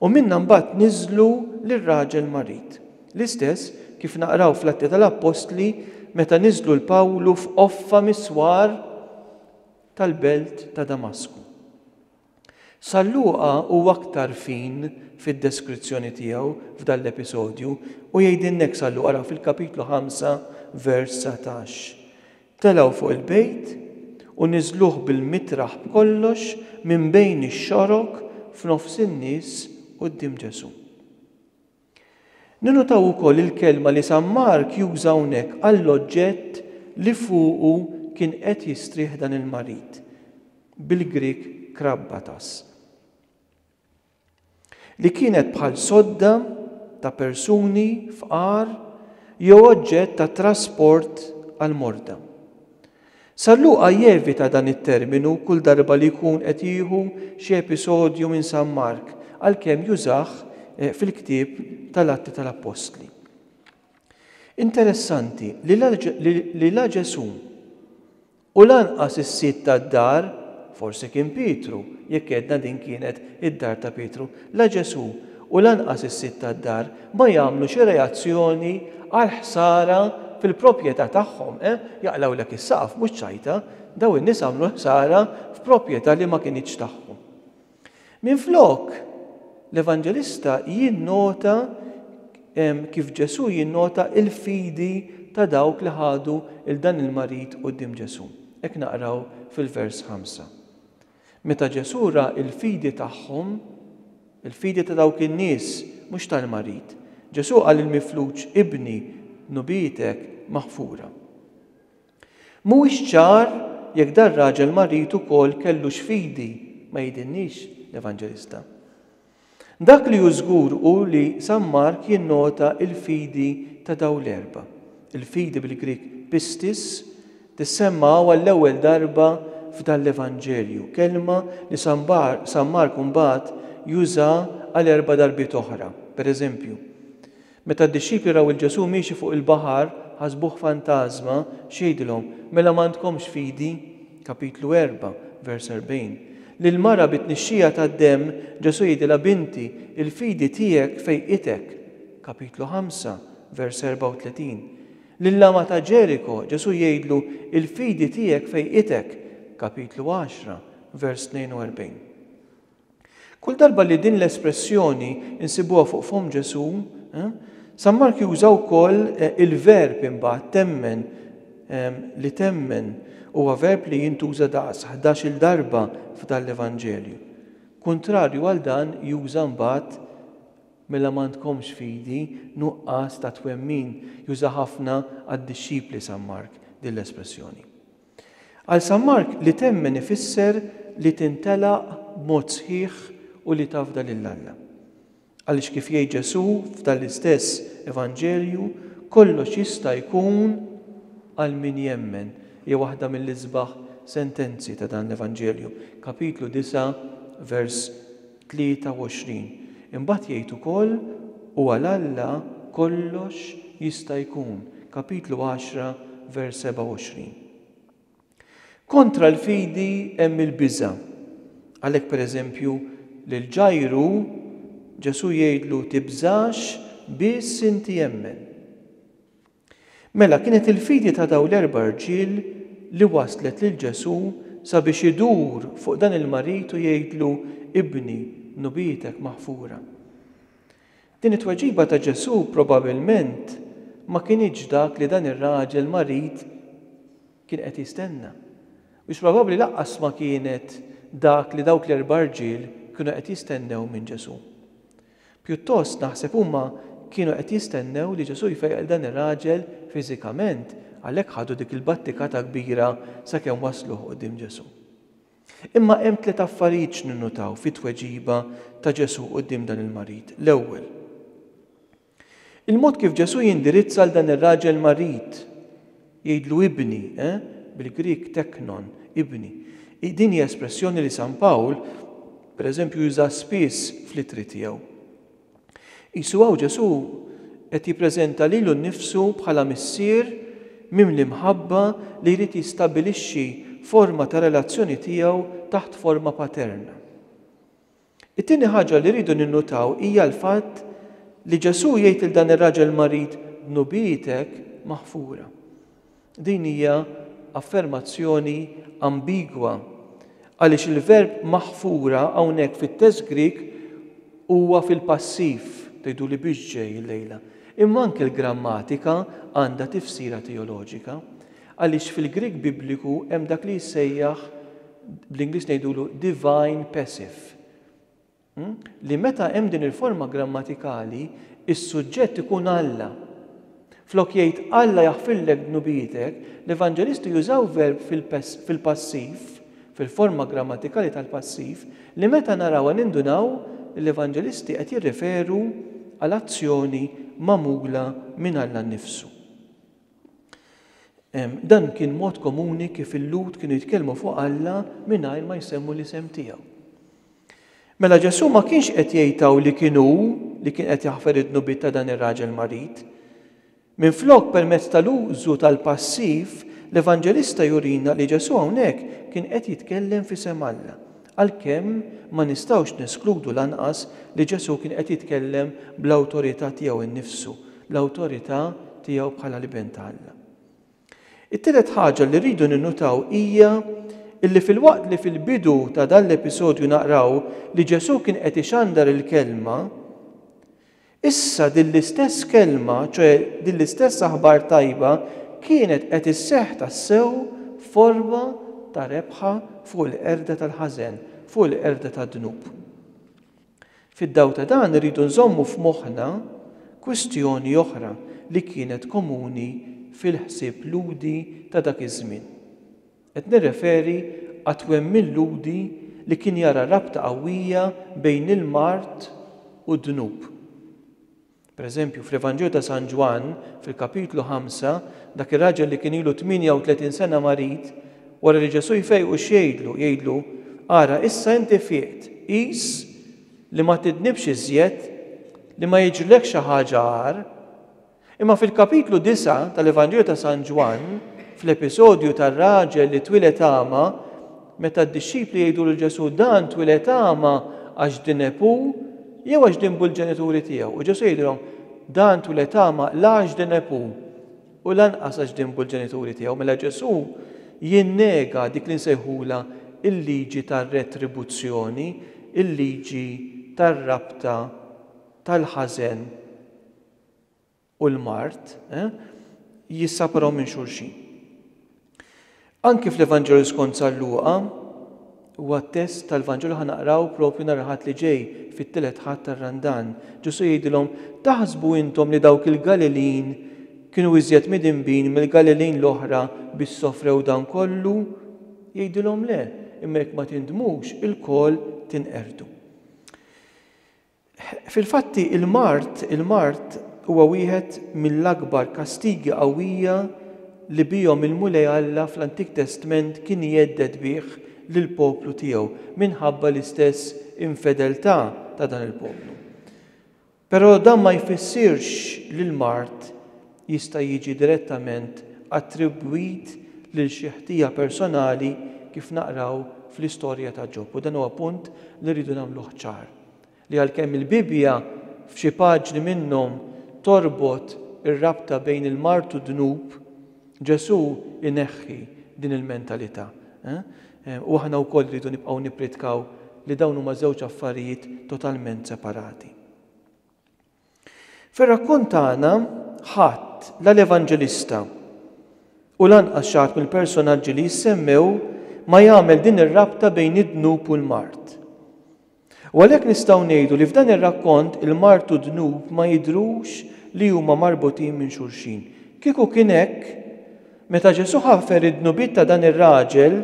u minnha mbagħad niżlu lir-raġel marid, l-istess kif naqraw fl-Atti tal-Appostli meta niżlu 'l Pawlu f'qoffa mis-swar tal-belt ta' Damasku. San Luqa hu aktar fin fid-deskrizzjoni tiegħu f'dan l-episodju u jgħidilna hekk San Luqa, ara fil-kapitlu 5 vers 19, Telgħu fuq il-bejt u niżluh bil-mitraħ b'kollox minn bejn ix-xorok f'nofs in-nies quddiem Ġesù. Ninnotaw ukoll il-kelma li San Mark juża hawnhekk għall-oġġett li fuqu kien qed jistrieħ dan il-marid, bil-Grieg krabbatas, li kienet bħal sodda ta' persuni fqar jew oġġett ta' trasport għall-morda. San Luqa jevita dan it-terminu kull darba li jkun qed jieħu xi episodju minn San Mark, għalkemm jużah fil-ktieb tal-Atti tal-Appostli. Interessanti li la Ġesù u lanqas is-sid tad-dar, forsi kien Pietru, jekk għedna din kienet id-dar ta' Pietru, La Ġesù u lanqas is-sid tad-dar ma jagħmlu xi reazzjoni għall-ħsara fil-propjetà tagħhom. Eh, jaqlgħulek is-saqaf, mhux ċajta! Dawn in-nies għamlu l-ħsara f'propjetà li ma kinitx tagħhom. Minflok, l-Evanġelista jinnota kif Ġesù jinnota l-fidi ta' dawk li ħadu 'l dan il-marid quddiem Ġesù. Hekk naqraw fil-vers 5. Meta Ġesù ra l-fidi tagħhom, il-fidi ta' dawk in-nies, mhux tal-marid, Ġesù qal lill-mifluġ, Ibni, dnubietek maħfura. Mhuwiex ċar jekk dar-raġel marid ukoll kellux fidi, ma jidhinniex l-Evanġelista. Dak li hu żgur hu li San Mark jinnota l-fidi ta' dawn l-erba'. Il-fidi bil-Grieg pistis tissemma hawn għall-ewwel darba f'dan l-Evanġelju, kelma li San Mark mbagħad juża għal erba' darbiet oħra, pereżempju, Meta d-dixxipli raw 'il Ġesù miexi fuq il-baħar, ħasbuh fantażma, x'għidilhom? Mela m'għandkomx fidi? Kapitlu 4, vers 40. Lill-mara bit-tnixxija tad-demm, Ġesù jgħidilha Binti, il-fidi tiegħek fejqitek. Kapitlu 5, vers 34. Lill-għama ta' Ġeriko, Ġesù jgħidlu il-fidi tiegħek fejqitek. Kapitlu 10, vers 42. Kull darba li din l-espressjoni nsibuha fuq fomm Ġesù, San Mark juża wkoll il-verb imbagħad temmen, li temmen huwa verb li jintuża daqs ħdax-il darba f'dan l-Evanġelju. Kuntrarju għal dan juża mbagħad mela m'għandkomx fidi, nuqqas ta' twemmin, juża ħafna għad-dixxipli San Mark din l-espressjoni. Għal San Mark li temmen ifisser li tintelaq b'mod sħiħ u li tafda lil Alla. Għaliex kif jgħid Ġesù f'dan l-istess Evanġelju, kollox jista' jkun għal min jemmen, hija waħda mill-isbaħ sentenzi ta' dan l-Evanġelju, kapitlu disgħa, vers 23 Imbagħad jgħid ukoll, U għal Alla kollox jista' jkun, kapitlu 10, vers 27. Kontra l-fidi hemm il-biża'. Għalhekk pereżempju, lil Ġajru Ġesù jgħidlu, Tibżax, biss inti emmen. Mela kienet il-fidi ta' dawn l-erba' rġiel li wasslet lil Ġesù sabiex idur fuq dan il-marid u jgħidlu, Ibni, nubietek maħfura. Din it-tweġiba ta' Ġesù probabilment ma kinitx dak li dan ir-raġel marid kien qed jistenna. Mhux probabbli lanqas ma kienet dak li dawk l-erba' rġiel kienu qed jistennew minn Ġesù. Pjuttost naħseb huma kienu qed jistennew li Ġesù jfejjaq lil dan ir-raġel fiżikament, għalhekk ħadu dik il-battikata kbira sakemm wasluh quddiem Ġesù. Imma hemm tliet affarijiet x'ninnutaw fit-tweġiba ta' Ġesù quddiem dan il-marid. L-ewwel, il-mod kif Ġesù jindirizza lil dan ir-raġel marid Jgħidlu ibni, eh? Bil-Grieg teknon, ibni. Din hi espressjoni li San Pawl, per eżempju, jużaha spiss fl-Ittri tiegħu. Qisu hawn Ġesù qed jippreżenta lilu nnifsu bħala Missier mimli mħabba li jrid jistabbilixxi forma ta' relazzjoni tiegħu taħt forma paterna. It-tieni ħaġa li rridu ninnutaw hija l-fatt li Ġesù jgħid lil dan ir-raġel marid, Dnubietek maħfura. Din hija affermazzjoni ambigwa, għaliex il-verb maħfura hawnhekk fit-test Grieg huwa fil-passiv, tgħiduli biex ġej illejla, imma anke l-grammatika għandha tifsira teoloġika. Għaliex fil-Grieg Bibliku hemm dak li jissejjaħ, bl-Ingliż ngħidulu divine passive, li meta hemm din il-forma grammatikali, is-suġġett ikun Alla. Flok jgħid Alla jaħfirlek dnubietek, l-Evanġelisti jużaw verb fil-passiv, fil-forma grammatikali tal-passiv, li meta narawha nindunaw li l-Evanġelisti qed jirreferu għal azzjoni magħmula minn Alla nnifsu. Dan kien mod komuni kif il-Lhud kienu jitkellmu fuq Alla mingħajr ma jsemmu l-isem tiegħu. Mela Ġesù ma kienx qed jgħidtaw li kien hu li kien qed jaħfer id-dnubiet ta' dan ir-raġel marid. Minflok permezz tal-użu tal-passiv, l-Evanġelista jurina li Ġesù hawnhekk kien qed jitkellem f'isem Alla. Għalkemm ma nistgħux neskludu lanqas li Ġesù kien qed jitkellem bl-awtorità tiegħu nnifsu, l-awtorità tiegħu bħala l-Ibn ta' Alla. It-tielet ħaġa li rridu ninnutaw hija illi filwaqt li fil-bidu ta' dan l-episodju naqraw li Ġesù kien qed ixandar il-Kelma, Issa din l-istess kelma, ċoe din l-istess aħbar tajba, kienet qed isseħħ tassew f'forma ta' rebħa fuq il-qerda tal-ħażen, fuq il-qerda tad-dnub. Fid-dawl ta' dan irridu nżommu f'moħħna kwistjoni oħra li kienet komuni fil-ħsieb Lhudi ta' dak iż-żmien. Qed nirreferi għat-twemmin Lhudi li kien jara rabta qawwija bejn il-mard u d-dnub. Per eżempju, fl-Evanġelju ta' San Ġwann, fil-kapitlu ħamsa, dak ir-raġel li kien ilu 38 sena marid, wara li Ġesù jfejqu x'jgħidlu? Jgħidlu, Ara, issa inti fieqt, qis li ma tidnibx iżjed, li ma jiġrilekx xi ħaġa agħar. Imma fil-kapitlu disa' tal-Evanġelju ta' San Ġwann, fl-episodju tar-raġel li twieled agħma, meta d-dixxipli jgħidu lil Ġesù dan twieled agħma għax dineb hu jew għax dinbu l-ġenituri tiegħu, u Ġesù jgħidilhom dan twieled agħma la għax dineb hu u lanqas għax dinbu l-ġenituri tiegħu, mela Ġesù jinnega dik li nsejħulha l-liġi tar-retribuzzjoni, il-liġi tar-rabta tal-ħażen. u l-mard jissaparaw minn xulxin. Anki fl-Evanġelju skont San Luqa, huwa t-test tal-Vanġelu ħa naqraw propju nhar il-Ħadd li ġej, fit-tielet Ħadd tar-Randan. Ġesù jgħidilhom, Taħsbu intom li dawk il-Galilin kienu iżjed midinbin mill-Galilin l-oħra biex sofrew dan kollu? Jgħidilhom le, imma jekk ma tindmux, ilkoll tinqerdu. Fil-fatti, il-mard, il-mard huwa wieħed mill-akbar kastigi qawwija li bihom il-Mulej Alla fl-Antik Testment kien jhedded bih lill-poplu tiegħu minħabba l-istess infedeltà ta' dan il-poplu. Però dan ma jfissirx li l-mard jista' jiġi direttament attribwit lil xi ħtija personali kif naqraw fl-istorja ta' Ġob. U dan huwa punt li rridu nagħmluh ċar, li għalkemm il-Bibbja f'xi paġni minnhom torbot ir-rabta bejn il-mard u d-dnub, Ġesù jneħħi din il-mentalità. U aħna wkoll irridu nibqgħu nippritkaw li dawn huma żewġ affarijiet totalment separati. Fir-rakkont tagħna, ħadd, la l-Evanġelista u lanqas xi ħadd mill-personaġġi li jissemmew, ma jagħmel din ir-rabta bejn id-dnub u l-mard. U għalhekk nistgħu ngħidu li f'dan ir-rakkont il-mard u d-dnub ma jidhrux li huma marbutin minn xulxin. Kieku kien hekk, Meta Ġesù ħafer id-dnubiet ta' dan ir-raġel,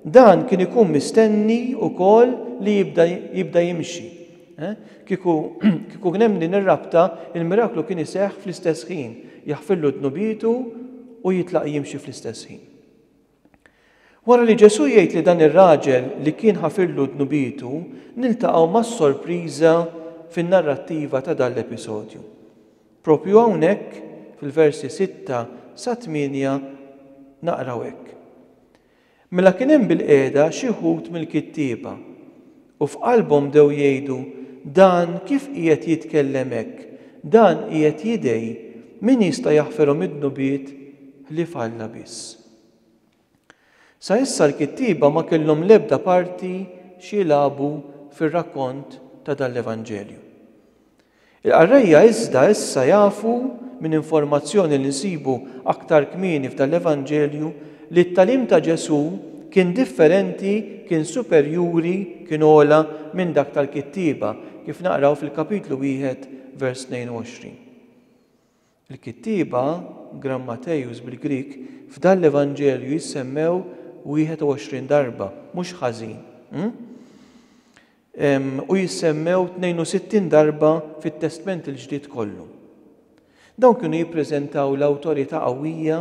dan kien ikun mistenni wkoll li jibda jibda jimxi. Eh? Kieku kieku kien hemm din ir-rabta, il-miraklu kien iseħħ fl-istess ħin, jaħfirlu dnubietu u jitlaq jimxi fl-istess ħin. Wara li Ġesù jgħid li dan ir-raġel li kien ħafirlu dnubietu, niltaqgħu mas-sorpriża fin-narrattiva ta' dan l-episodju. Proprju hawnhekk, fil-versi sitta sa tmienja, naqraw hekk, Mela kien hemm bilqiegħda xi wħud mill-kittieba, u f'qalbhom bdew jgħidu, Dan kif qiegħed jitkellem hekk? Dan qiegħed jidgħi, min jista' jaħfirhom id-dnubiet ħlief Alla biss? Sa issa l-kittieba ma kellhom l-ebda parti x'jilagħbu fir-rakkont ta' dan l-Evanġelju. Il-qarrejja iżda issa jafu minn informazzjoni li nsibu aktar kmieni f'dan l-Evanġelju li t-tagħlim ta' Ġesù kien differenti, kien superjuri, kien ogħla minn dak tal-kittieba, kif naqraw fil-kapitlu wieħed vers 22. Il-kittieba, Gram Matejus bil-Grieg, f'dan l-Evanġelju jissemmew 21 darba, mhux ħażin, hm? u jissemmew 62 darba fit-Testment il-Ġdid kollu. Dawn kienu jippreżentaw l-awtorità qawwija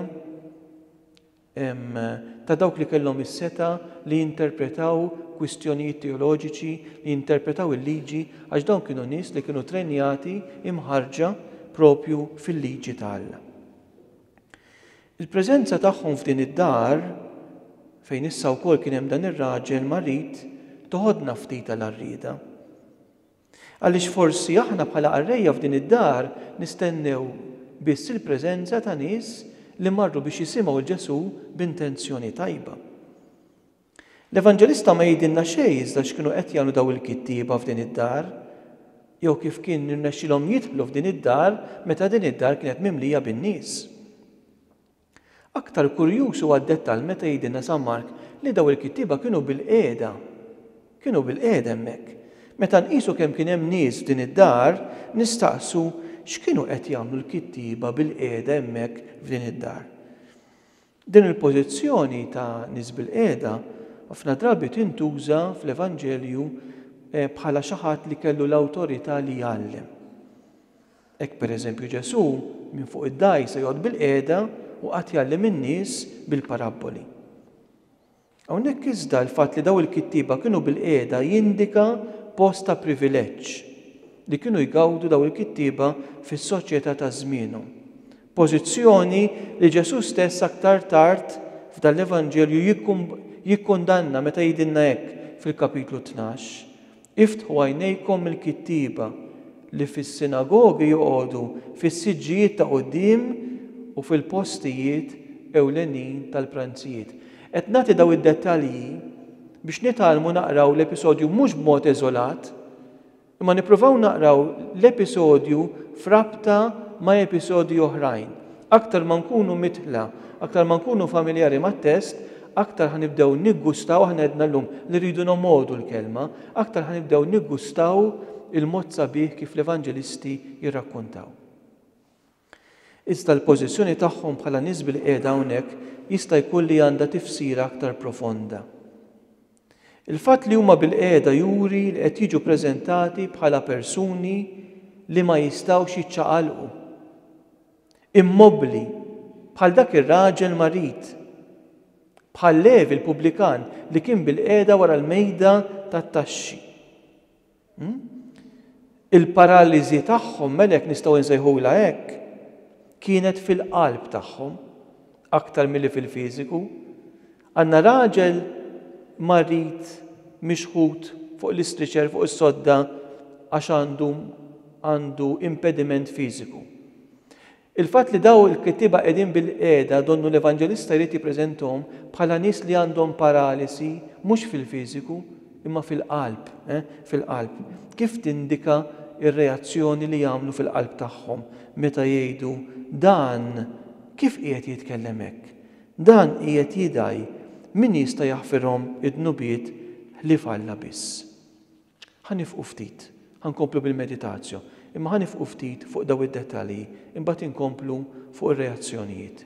ta' dawk li kellhom is-setgħa li jinterpretaw kwistjonijiet teoloġiċi, li jinterpretaw il-Liġi, għax dawn kienu nies li kienu trenjati, imħarrġa, proprju fil-Liġi ta' Alla. Il-preżenza tagħhom f'din id-dar, fejn issa wkoll kien hemm dan ir-raġel marid, toħodna ftit għal għarrieda. Għaliex forsi aħna bħala qarrejja f'din id-dar nistennew biss il-preżenza ta' nies li marru biex jisimgħu 'l Ġesù b'intenzjoni tajba. L-Evanġelista ma jgħidilna xejn iżda x'kienu qed jagħmlu dawn il-kittieba f'din id-dar, jew kif kien irnexxilhom jidħlu f'din id-dar meta din id-dar kienet mimlija bin-nies. Aktar kurjuż huwa d-dettall meta jgħidilna San Mark li dawn il-kittieba kienu bilqiegħda. Kienu bilqiegħda hemmhekk. Meta nqisu kemm kien hemm nies f'din id-dar, nistaqsu x'kienu qed jagħmlu l-kittieba bilqiegħda hemmhekk f'din id-dar. Din il-pożizzjoni ta' nies bilqiegħda ħafna drabi tintuża fl-Evanġelju bħala xi ħadd li kellu l-awtorità li jgħallem. Hekk pereżempju Ġesù minn fuq id-dgħajsa joqgħod bilqiegħda u qagħad jgħallem in-nies bil-parabboli. Hawnhekk iżda l-fatt li dawn il-kittieba kienu bilqiegħda jindika post ta' privileġġ li kienu jgawdu dawn il-kittieba fis-soċjetà ta' żmienhom, pożizzjoni li Ġesù stess aktar tard f'dan l-Evanġelju jikkundanna meta jgħidilna hekk fil-Kapitlu Tnax, Iftħu għajnejkom mill-kittieba, li fis-sinagogi joqogħdu fis-siġġijiet ta' quddiem u fil-postijiet ewlenin tal-pranzijiet. Qed nagħti dawn id-dettalji biex nitgħallmu naqraw l-episodju mhux b'mod eżolat, imma nippruvaw naqraw l-episodju f'rabta ma' episodji oħrajn. Aktar ma nkunu midħla, aktar ma nkunu familjari mat-test, Aktar ħa nibdew niggustaw, aħna għedna llum li rridu nomgħodu l-Kelma, aktar ħa nibdew niggustaw il-mod sabiħ kif l-Evanġelisti jirrakkuntaw. Iżda l-pożizzjoni tagħhom bħala nies bilqiegħda hawnhekk jista' jkun li għandha tifsira aktar profonda. Il-fatt li huma bilqiegħda juri li qed jiġu preżentati bħala persuni li ma jistgħux jiċċaqalqu. immobbli, bħal dak ir-raġel marid, bħal Levi l-pubblikan li kien bilqiegħda wara l-mejda tat-taxxi. Hmm? Il-paraliżi tagħhom, melek nistgħu nsejħulha hekk, kienet fil-qalb tagħhom aktar milli fil-fiżiku. Għandna raġel marid mixħut fuq l-istriċer fuq is-sodda għax għandu għandu impediment fiżiku. Il-fatt li dawn il-kittieba qegħdin bilqiegħda donnu l-Evanġelista jrid jippreżentahom bħala nies li għandhom paralisi mhux fil-fiżiku imma fil-qalb, eh, fil-qalb. Kif tindika r-reazzjoni li jagħmlu fil-qalb tagħhom meta jgħidu dan kif qiegħed jitkellem hekk? Dan qiegħed jidgħi, min jista' jaħfirhom id-dnubiet ħlief Alla biss? Ħa nifqu ftit. Ħa nkomplu bil-meditazio, imma ħa nifqu ftit fuq dawn id-dettalji, imbagħad inkomplu fuq ir-reazzjonijiet.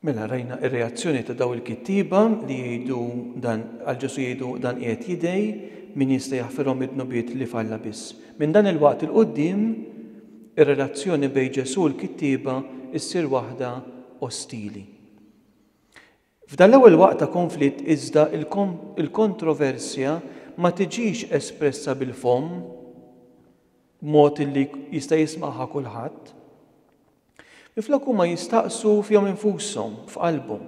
Mela rajna r-reazzjoni ta' dawn il-kittieba li jgħidu dan għal Ġesù jgħidu dan qiegħed jidgħi, min jista' jaħfirhom id-dnubiet li f'Alla biss. Minn dan il-waqt 'il quddiem ir-relazzjoni bejn Ġesù u l-kittieba ssir waħda ostili. F'dan l-ewwel waqt ta' konflitt iżda l-kontroversja ma tiġix espressa bil-fomm b'mod li jista' jismagħha kulħadd, Minflok huma jistaqsu fihom infushom, f'qalbhom.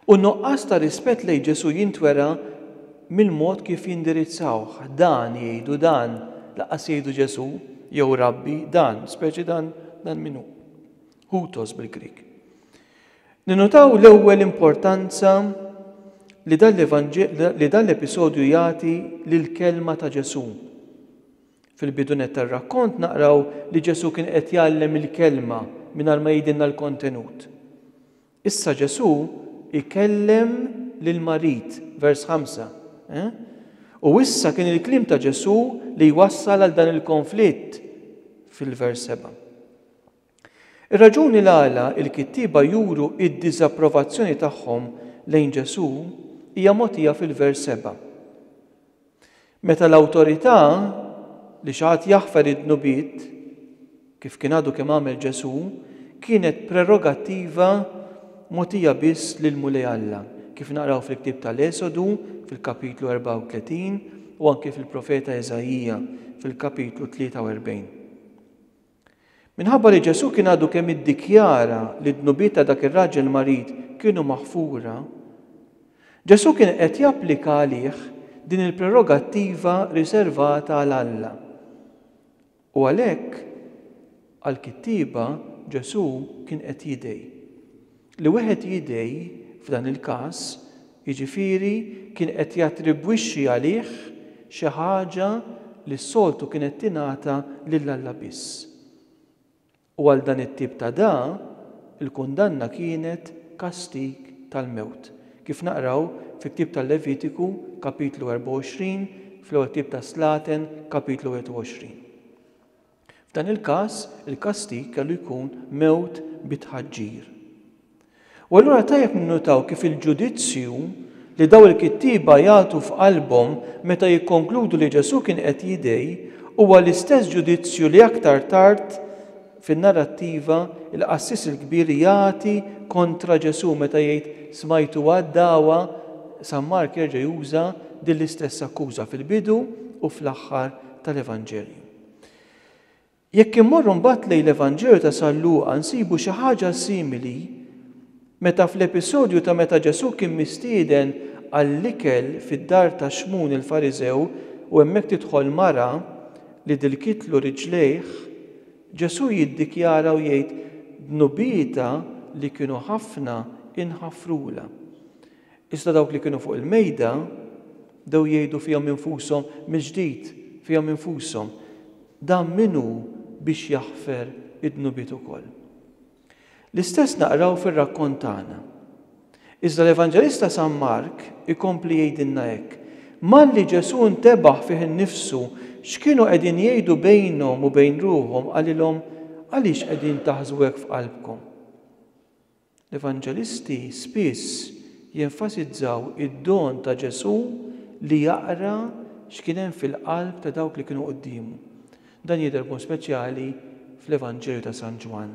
U n-nuqqas ta' rispett lejn Ġesù jintwera mill-mod kif jindirizzawh. Dan jgħidu, dan, lanqas jgħidu Ġesù, jew Rabbi, dan, speċi dan, dan min hu? Hutos bil-Grieg. Ninnutaw l-ewwel importanza li dan l-episodju jagħti lill-kelma ta' Ġesù. Fil-bidu nett tar-rakkont naqraw li Ġesù kien qed jgħallem il-Kelma mingħajr ma jgħidilna l-kontenut. Issa Ġesù jkellem lill-marid, vers 5, eh? U issa kien il-kliem ta' Ġesù li jwassal għal dan il-konflitt fil-vers 7. Ir-raġuni l-għala l-kittieba juru d-diżapprovazzjoni tagħhom lejn Ġesù hija mogħtija fil-vers 7. Meta l-awtorità li xi ħadd jaħfer id-dnubiet, kif kien għadu kemm għamel Ġesù, kienet prerogattiva mogħtija biss lill-Mulej Alla, kif naqraw fil-ktieb tal-Esodu fil-kapitlu 34 u anki fil-profeta Iżaija fil-kapitlu 43. Minħabba li Ġesù kien għadu kemm iddikjara li d-dnubiet ta' dak ir-raġel marid kienu maħfura, Ġesù kien qed japplika għalih din il-prerogattiva riservata għal Alla. U għalhekk, għall-kittieba Ġesù kien qed jidgħi. Li wieħed jidgħi f'dan il-każ, jiġifieri, kien qed jattribwixxi għalih xi ħaġa li s-soltu kienet tingħata lil Alla biss. U għal dan it-tip ta' dgħa, il-kundanna kienet kastig tal-mewt, kif naqraw fil-ktieb tal-Levitiku, Kapitlu 24, fl-ewwel ktieb tas-Slaten, Kapitlu 21. F'dan il-każ, il-kastig kellu jkun mewt bi tħaġġir. U allura tajjeb ninnutaw kif il-ġudizzju li dawn il-kittieba jagħtu f'qalbhom meta jikkonkludu li Ġesù kien qed jidgħi huwa l-istess ġudizzju li aktar tard fin-narrattiva l-qassis il-kbir jagħti kontra Ġesù meta jgħid smajtu għad-dagħwa San Mark jerġa' juża din l-istess akkuża fil-bidu u fl-aħħar tal-Evanġelju. Jekk immorru mbagħad lejn l-Evanġelju ta' San Luqa nsibu xi ħaġa simili meta fl-episodju ta' meta Ġesù kien mistieden għall-ikel fid-dar ta' Xmun il-Fariżew u hemmhekk tidħol mara li dilkitlu riġlejh, Ġesù jiddikjara u jgħid, Dnubietha li kienu ħafna inħafrulha. Iżda dawk li kienu fuq il-mejda bdew jgħidu fihom infushom mill-ġdid fihom infushom, Dan min hu biex jaħfer id-dnubiet ukoll? L-istess naqraw fir-rakkont tagħna. Iżda l-Evanġelista San Mark ikompli jgħidilna hekk, Malli Ġesù ntebaħ fih innifsu x'kienu qegħdin jgħidu bejnhom u bejn ruħhom qalilhom, Għaliex qegħdin taħżu hekk f'qalbkom? L-Evanġelisti spiss jenfasizzaw id-don ta' Ġesù li jaqra x'kien hemm fil-qalb ta' dawk li kienu quddiemu. Dan jidher b'mod speċjali fl-Evanġelju ta' San Ġwann.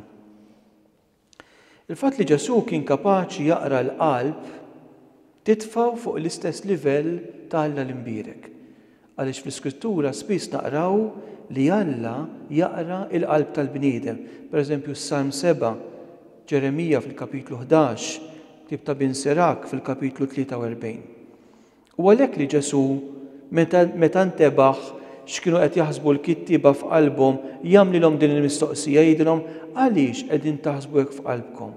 Il-fatt li Ġesù kien kapaċi jaqra l-qalb titfgħu fuq l-istess livell ta' Alla l-Imbierek. Għaliex fl-Iskrittura spiss naqraw li Alla jaqra l-qalb tal-bniedem, pereżempju s-Salm 7, Ġeremija fil-kapitlu ħdax, ktieb ta' Bin Sirach fil-kapitlu 43. U għalhekk li Ġesù, meta ntebaħ x'kienu qed jaħsbu l-kittieba f'qalbhom, jagħmlilhom din il-mistoqsija, jgħidilhom, Għaliex qegħdin taħsbu hekk f'qalbkom?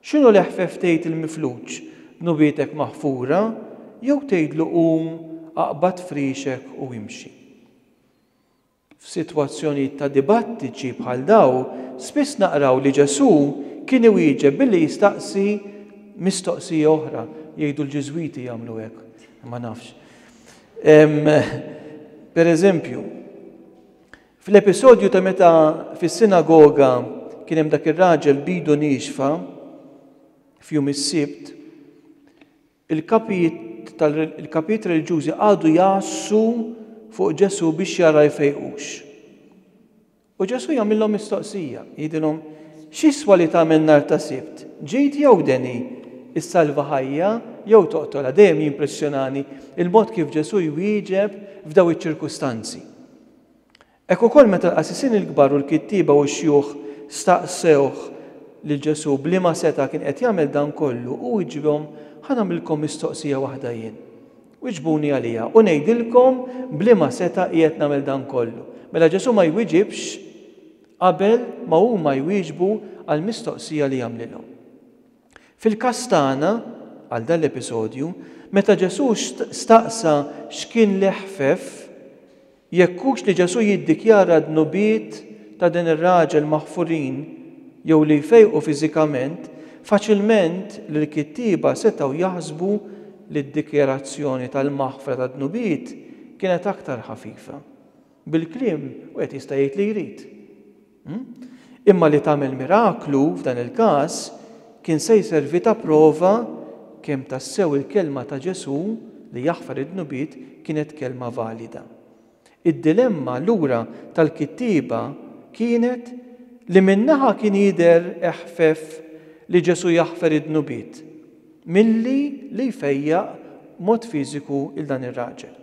X'inhu l-eħfef tgħid il-mifluġ, Dnubietek maħfura, jew tgħidlu qum, aqbad frixek u imxi? F'sitwazzjonijiet ta' dibattiċi bħal daw, spiss naqraw li Ġesù kien iwieġeb billi jistaqsi mistoqsija oħra, jgħidu l-Ġiżwiti jagħmlu hekk, ma nafx. Pereżempju, Fl-episodju ta' meta fis-sinagoga kien hemm dak ir-raġel b'idu niexfa, f'jum is-Sibt, il-kapijiet il-kapijiet reliġjużi qagħdu jgħassu fuq Ġesù biex jara jfejqux. U Ġesù jagħmilhom mistoqsija, jgħidilhom, x'iswa li tagħmel nhar ta' Sibt, ġid jew deni, issalva ħajja jew toqtolha, dejjem jimpressjonani il-mod kif Ġesù jwieġeb f'daw iċ-ċirkustanzi. Hekk ukoll meta l-qassisin il-kbar u l-kittieba u x-xjuħ staqsewh lil Ġesù b'liema setgħa kien qed jagħmel dan kollu, hu wieġibhom, Ħa nagħmlilkom mistoqsija waħda jien. Wieġbuni għaliha, u ngħidilkom b'liema setgħa qiegħed nagħmel dan kollu. Mela Ġesù ma jwieġibx qabel ma huma jwieġbu għall-mistoqsija li jagħmlilhom. Fil-każ tagħna, għal dan l-episodju, meta Ġesù staqsa x'kien l-iħfef, jekk hux li Ġesù jiddikjara d-dnubiet ta' dan ir-raġel maħfurin jew li jfejqu fiżikament, faċilment l-kittieba setgħu jaħsbu li d-dikjarazzjoni tal-maħfra tad-dnubiet kienet aktar ħafifa. Bil-kliem, wieħed jista' jgħid li jrid. Imma li tagħmel miraklu, f'dan il-każ, kien se jservi ta' prova kemm tassew il-kelma ta' Ġesù li jaħfar id-dnubiet kienet kelma valida. Id-dilemma, allura, tal-kittieba kienet li minn naħa kien jidher eħfef li Ġesù jaħfer id-dnubiet milli li jfejjaq b'mod fiżiku 'l dan ir-raġel.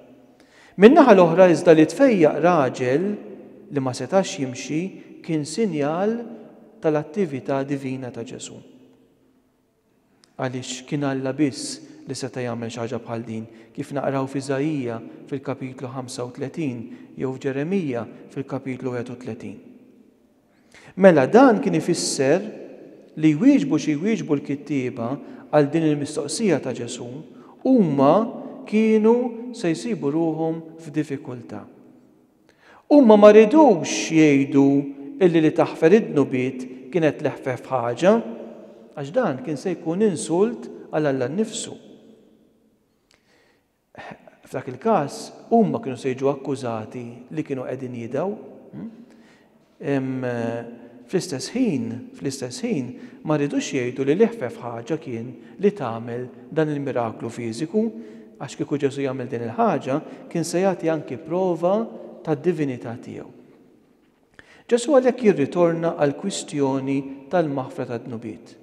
Min-naħa l-oħra iżda li tfejjaq raġel li ma setax jimxi kien sinjal tal-attività divina ta' Ġesù. Għaliex kien Alla biss li seta' jagħmel xi ħaġa bħal din, kif naqraw f'Iżaija fil-kapitlu 35 jew f'Ġeremija fil-kapitlu 31. Mela dan kien ifisser li jwieġbu xi jwieġbu l-kittieba għal din il-mistoqsija ta' Ġesù, huma kienu se jsibu ruħhom f'diffikultà. Huma ma ridux jgħidu illi li taħfer id-dnubiet kienet l-eħfef ħaġa, għax dan kien se jkun insult għal Alla nnifsu. F'dak il-każ, huma kienu se jiġu akkużati li kienu qegħdin jidgħu. Fl-istess ħin, fl-istess ħin, ma riedux jgħidu li l-iħfef ħaġa kien li tagħmel dan il-miraklu fiżiku, għax kieku Ġesù jagħmel din il-ħaġa, kien se jagħti anki prova tad-divinità tiegħu. Ġesù għalhekk jirritorna għall-kwistjoni tal-maħfra tad-dnubiet.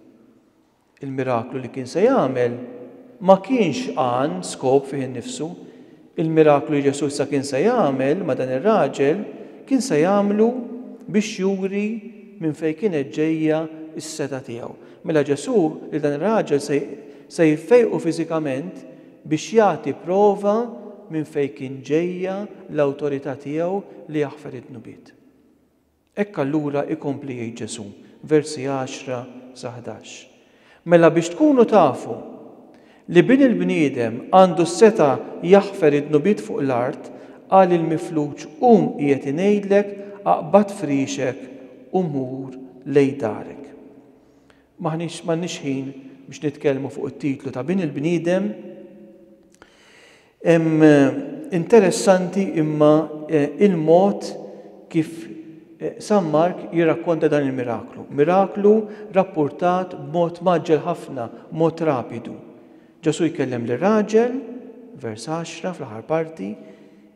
Il-miraklu li kien se jagħmel ma kienx għan, skop, fih innifsu. Il-miraklu li Ġesù issa kien se jagħmel ma' dan ir-raġel kien se jagħmlu biex juri minn fejn kienet ġejja s-setgħa tiegħu. Mela Ġesù lil dan ir-raġel se jfejqu fiżikament biex jagħti prova minn fejn kien ġejja l-awtorità tiegħu li jaħfer id-dnubiet. Hekk allura, ikompli jgħid Ġesù, versi 10 sa 11, mela biex tkunu tafu li Bin il-bniedem għandu s-setgħa jaħfer id-dnubiet fuq l-art, qal il-mifluġ, Qum qiegħed ngħidlek, aqbad frixek u mur lejn darek. M'aħniex m'għandniex ħin biex nitkellmu fuq it-titlu ta' Bin il-bniedem. Interessanti imma il-mod kif San Mark jirrakkonta dan il-miraklu. Miraklu rappurtat b'mod mgħaġġel ħafna, b'mod rapidu. Ġesù jkellem lir-raġel, vers 10 fl-aħħar parti,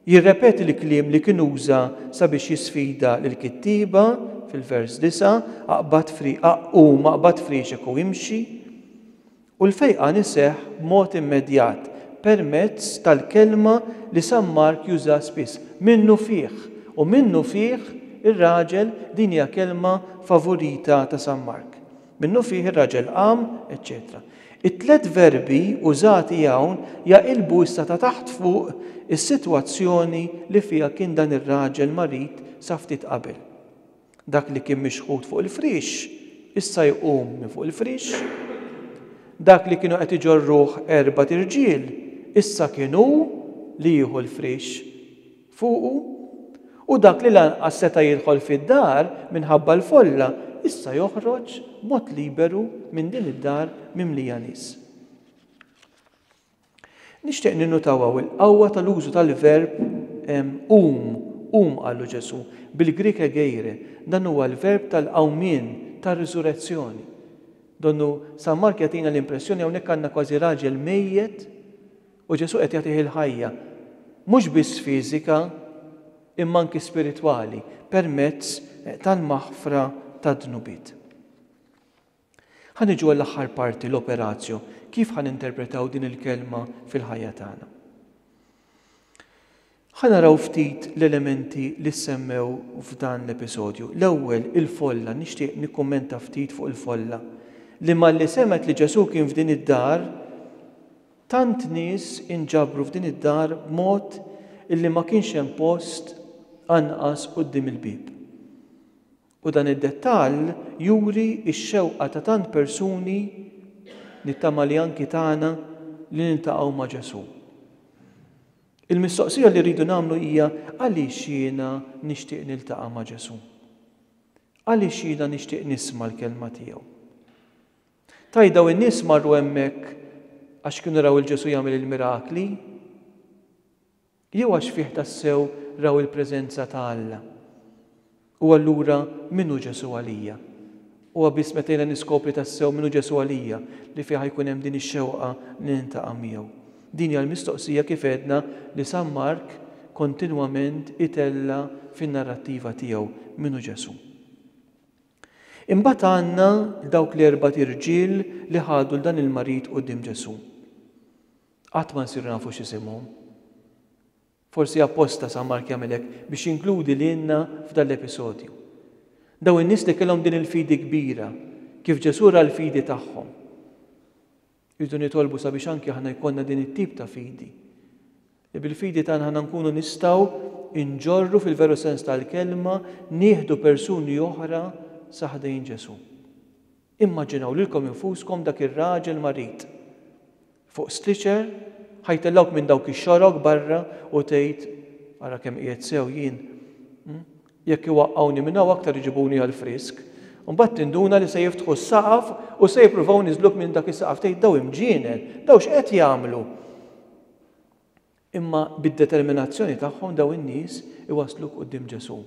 jirrepeti l-kliem li kien uża sabiex jisfida lill-kittieba fil-vers 9, aqbad aqum, aqbad friexek u imxi. U l-fejqan iseħħ b'mod immedjat permezz tal-kelma li San Mark juża spiss, minnufih, u minnufih ir-raġel din hija kelma favorita ta' San Mark. Minnufih ir-raġel qam, eċċetera It-tliet verbi użati hawn jaqilbu issa ta' taħt fuq is-sitwazzjoni li fiha kien dan ir-raġel marid sa ftit qabel. Dak li kien mixħut fuq il-friex, issa jqum minn fuq il-friex. Dak li kienu qed iġorruh erbat irġiel, issa kien hu li jieħu l-friex fuqu. U dak li lanqas seta' jidħol fid-dar minħabba l-folla, issa joħroġ b'mod liberu minn din id-dar mimlija nies. Nixtieq ninnutaw hawn il-qawwa tal-użu tal-verb qum, qum, qallu Ġesù, bil-Grieg egeire, dan huwa l-verb tal-qawmien, tar-riżurezzjoni. Donnu San Mark jagħtina l-impressjoni hawnhekk għandna kważi raġel mejjet u Ġesù qed jagħtih il-ħajja, mhux biss fiżika imma anki spiritwali, permezz tal-maħfra tad-dnubiet. Ħa niġu għall-aħħar parti, l-operatio, kif ħa ninterpretaw din il-kelma fil-ħajja tagħna? Ħa naraw ftit l-elementi li ssemmew f'dan l-episodju. L-ewwel, il-folla, nixtieq nikkummenta ftit fuq il-folla, li malli semgħet li Ġesù kien f'din id-dar, tant nies inġabru f'din id-dar b'mod illi ma kienx hemm post anqas quddiem il-bieb. U dan id-dettall juri x-xewqa ta' tant persuni, nittama li anki tagħna, li niltaqgħu ma' Ġesù. Il-mistoqsija li rridu nagħmlu hija għaliex jiena nixtieq niltaqa' ma' Ġesù? Għaliex jiena nixtieq nisma' l-kelma tiegħu? Taj daw in-nies marru hemmhekk għax kienu raw il-Ġesù jagħmel il-mirakli. Li huwa xfih tassew raw il-preżenza ta' Alla. U allura min hu Ġesù għalija? Huwa biss meta jiena niskopri tassew min hu Ġesù għalija li fiha jkun hemm din ix-xewqa li nintaqa' miegħu. Din hija l-mistoqsija kif għedna li San Mark kontinwament itella' fin-narrattiva tiegħu, min hu Ġesù? Imbagħad għandna dawk l-erbat irġiel li ħadu 'l dan il-marid quddiem Ġesù. Qatt ma nsiru nafu x'isimhom. Forsi apposta San Mark jagħmel hekk biex jinkludi lilna f'dan l-episodju. Dawn in-nies li kellhom din il-fidi kbira, kif Ġesù ra l-fidi tagħhom? Irridu nitolbu sabiex anki aħna jkollna din it-tip ta' fidi, li bil-fidi tagħna aħna nkunu nistgħu nġorru fil-veru sens tal-kelma nieħdu persuni oħra sa ħdejn Ġesù. Immaġinaw lilkom infuskom dak ir-raġel marid fuq stretcher, ħa jtellgħuk minn dawk ix-xorok barra u tgħid, Ara kemm qiegħed sew jien. Jekk iwaqqgħuni minn hawn aktar iġibuni għall-frisk. U mbagħad tinduna li se jiftħu s-saqaf u se jippruvaw iniżżluk minn dak is-saqaf. Tgħid, Dawn imġienen! Dawn x'qed jagħmlu? Imma bid-determinazzjoni tagħhom dawn in-nies iwassluk quddiem Ġesù.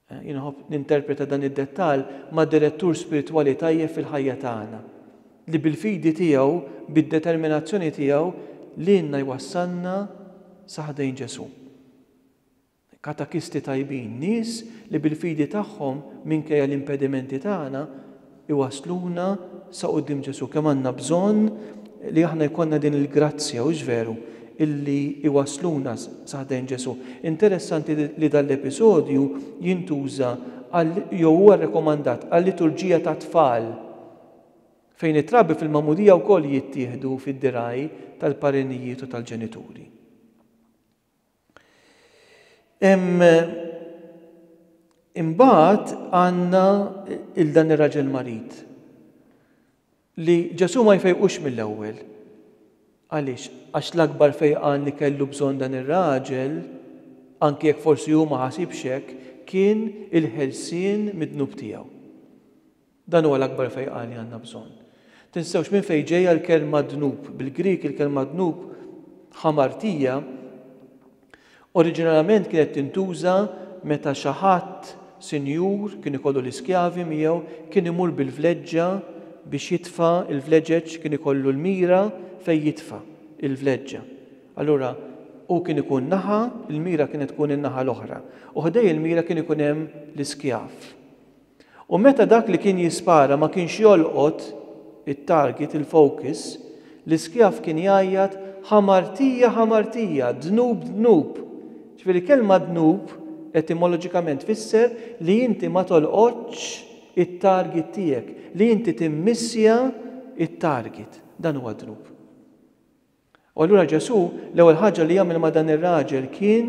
Jien iħobb ninterpreta dan id-dettall ma' direttur spiritwali tajjeb fil-ħajja tagħna, li bil-fidi tiegħu, bid-determinazzjoni tiegħu lilna jwassalna sa ħdejn Ġesù. Katakisti tajbin, nies li bil-fidi tagħhom, minkejja l-impedimenti tagħna, iwassluna sa quddiem Ġesù. Kemm għandna bżonn li aħna jkollna din il-grazzja, hux veru, illi iwassluna sa ħdejn Ġesù. Interessanti li dan l-episodju jintuża għal jew huwa rrekomandat għal-liturġija tat-tfal, fejn it-trabi fil-magħmudija wkoll jittieħdu fid-dirgħaj tal-parenijiet u tal-ġenituri. Hemm imbagħad għandna il dan ir-raġel marid li Ġesù ma jfejqux mill-ewwel. Għaliex? Għax l-akbar fejqan li kellu bżonn dan ir-raġel, anki jekk forsi hu ma ħasibx hekk, kien il-ħelsien mid-dnub tiegħu. Dan huwa l-akbar fejqan li għandna bżonn. Tinsewx minn fejn ġejja l-kelma dnub. Bil-Grieg il-kelma dnub, hamartia, oriġinarjament kienet tintuża meta xi ħadd sinjur kien ikollu l-iskjavi miegħu kien imur bil-vleġġa biex jitfa' l-vleġeġ, kien ikollu l-mira fejn jitfa' l-vleġġa. Allura hu kien ikun naħa, il-mira kienet tkun in-naħa l-oħra u ħdej il-mira kien ikun hemm l-iskjav. U meta dak li kien jispara ma kienx jolqot it-target, il-focus, l-iskjav kien jgħajjat, Ħamartija, ħamartija! Dnub, dnub! Ġifieri l-kelma dnub etimoloġikament tfisser li inti ma tolqotx it-target tiegħek, li inti timmissja t-target. Dan huwa dnub. U allura Ġesù l-ewwel ħaġa li għamel ma' dan ir-raġel kien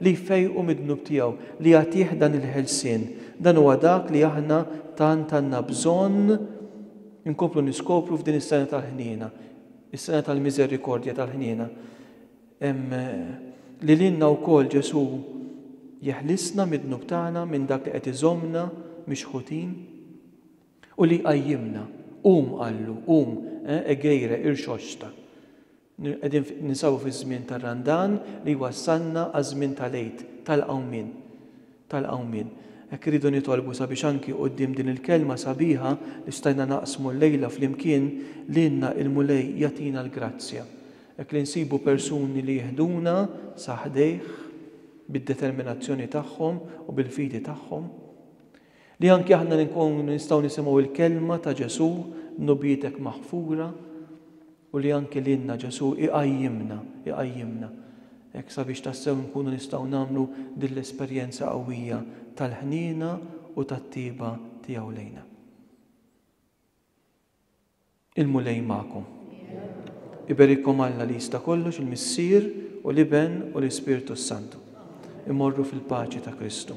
li jfejqu mid-dnub tiegħu, li jagħtih dan il-ħelsien. Dan huwa dak li aħna tant għandna bżonn inkomplu niskopru f'din is-sena tal-ħniena, is-sena tal-miżerikordja tal-ħniena. Li lilna wkoll Ġesù jeħlisna mid-dnub tagħna, minn dak li qed iżommna mixħutin. U li jqajjimna. Qum, qallu, qum, eh, Egeire, irxoxta. Qegħdin ninsabu fiż-żmien tar-Randan li jwassalna għaż-żmien tal-Għid, tal-Qawmien. Tal-Qawmien. Hekk irridu nitolbu sabiex anki quddiem din il-kelma sabiħa li stajna naqsmu llejla flimkien, lilna il-Mulej jagħtina l-grazzja. Hekk li nsibu persuni li jiħduna sa ħdejh bid-determinazzjoni tagħhom u bil-fidi tagħhom. Li anki aħna nkunu nistgħu nisimgħu l-kelma ta' Ġesù, dnubietek maħfura, u li anki lilna Ġesù iqajjimna, iqajjimna, hekk sabiex tassew nkunu nistgħu nagħmlu din l-esperjenza qawwija tal-ħniena u tat-tjieba tiegħu lejna. Il-Mulej magħkom. Iberikkom Alla li jista' kollox, il-Missier u l-Iben u l-Ispirtu s-Santu. Immorru fil-paċi ta' Kristu.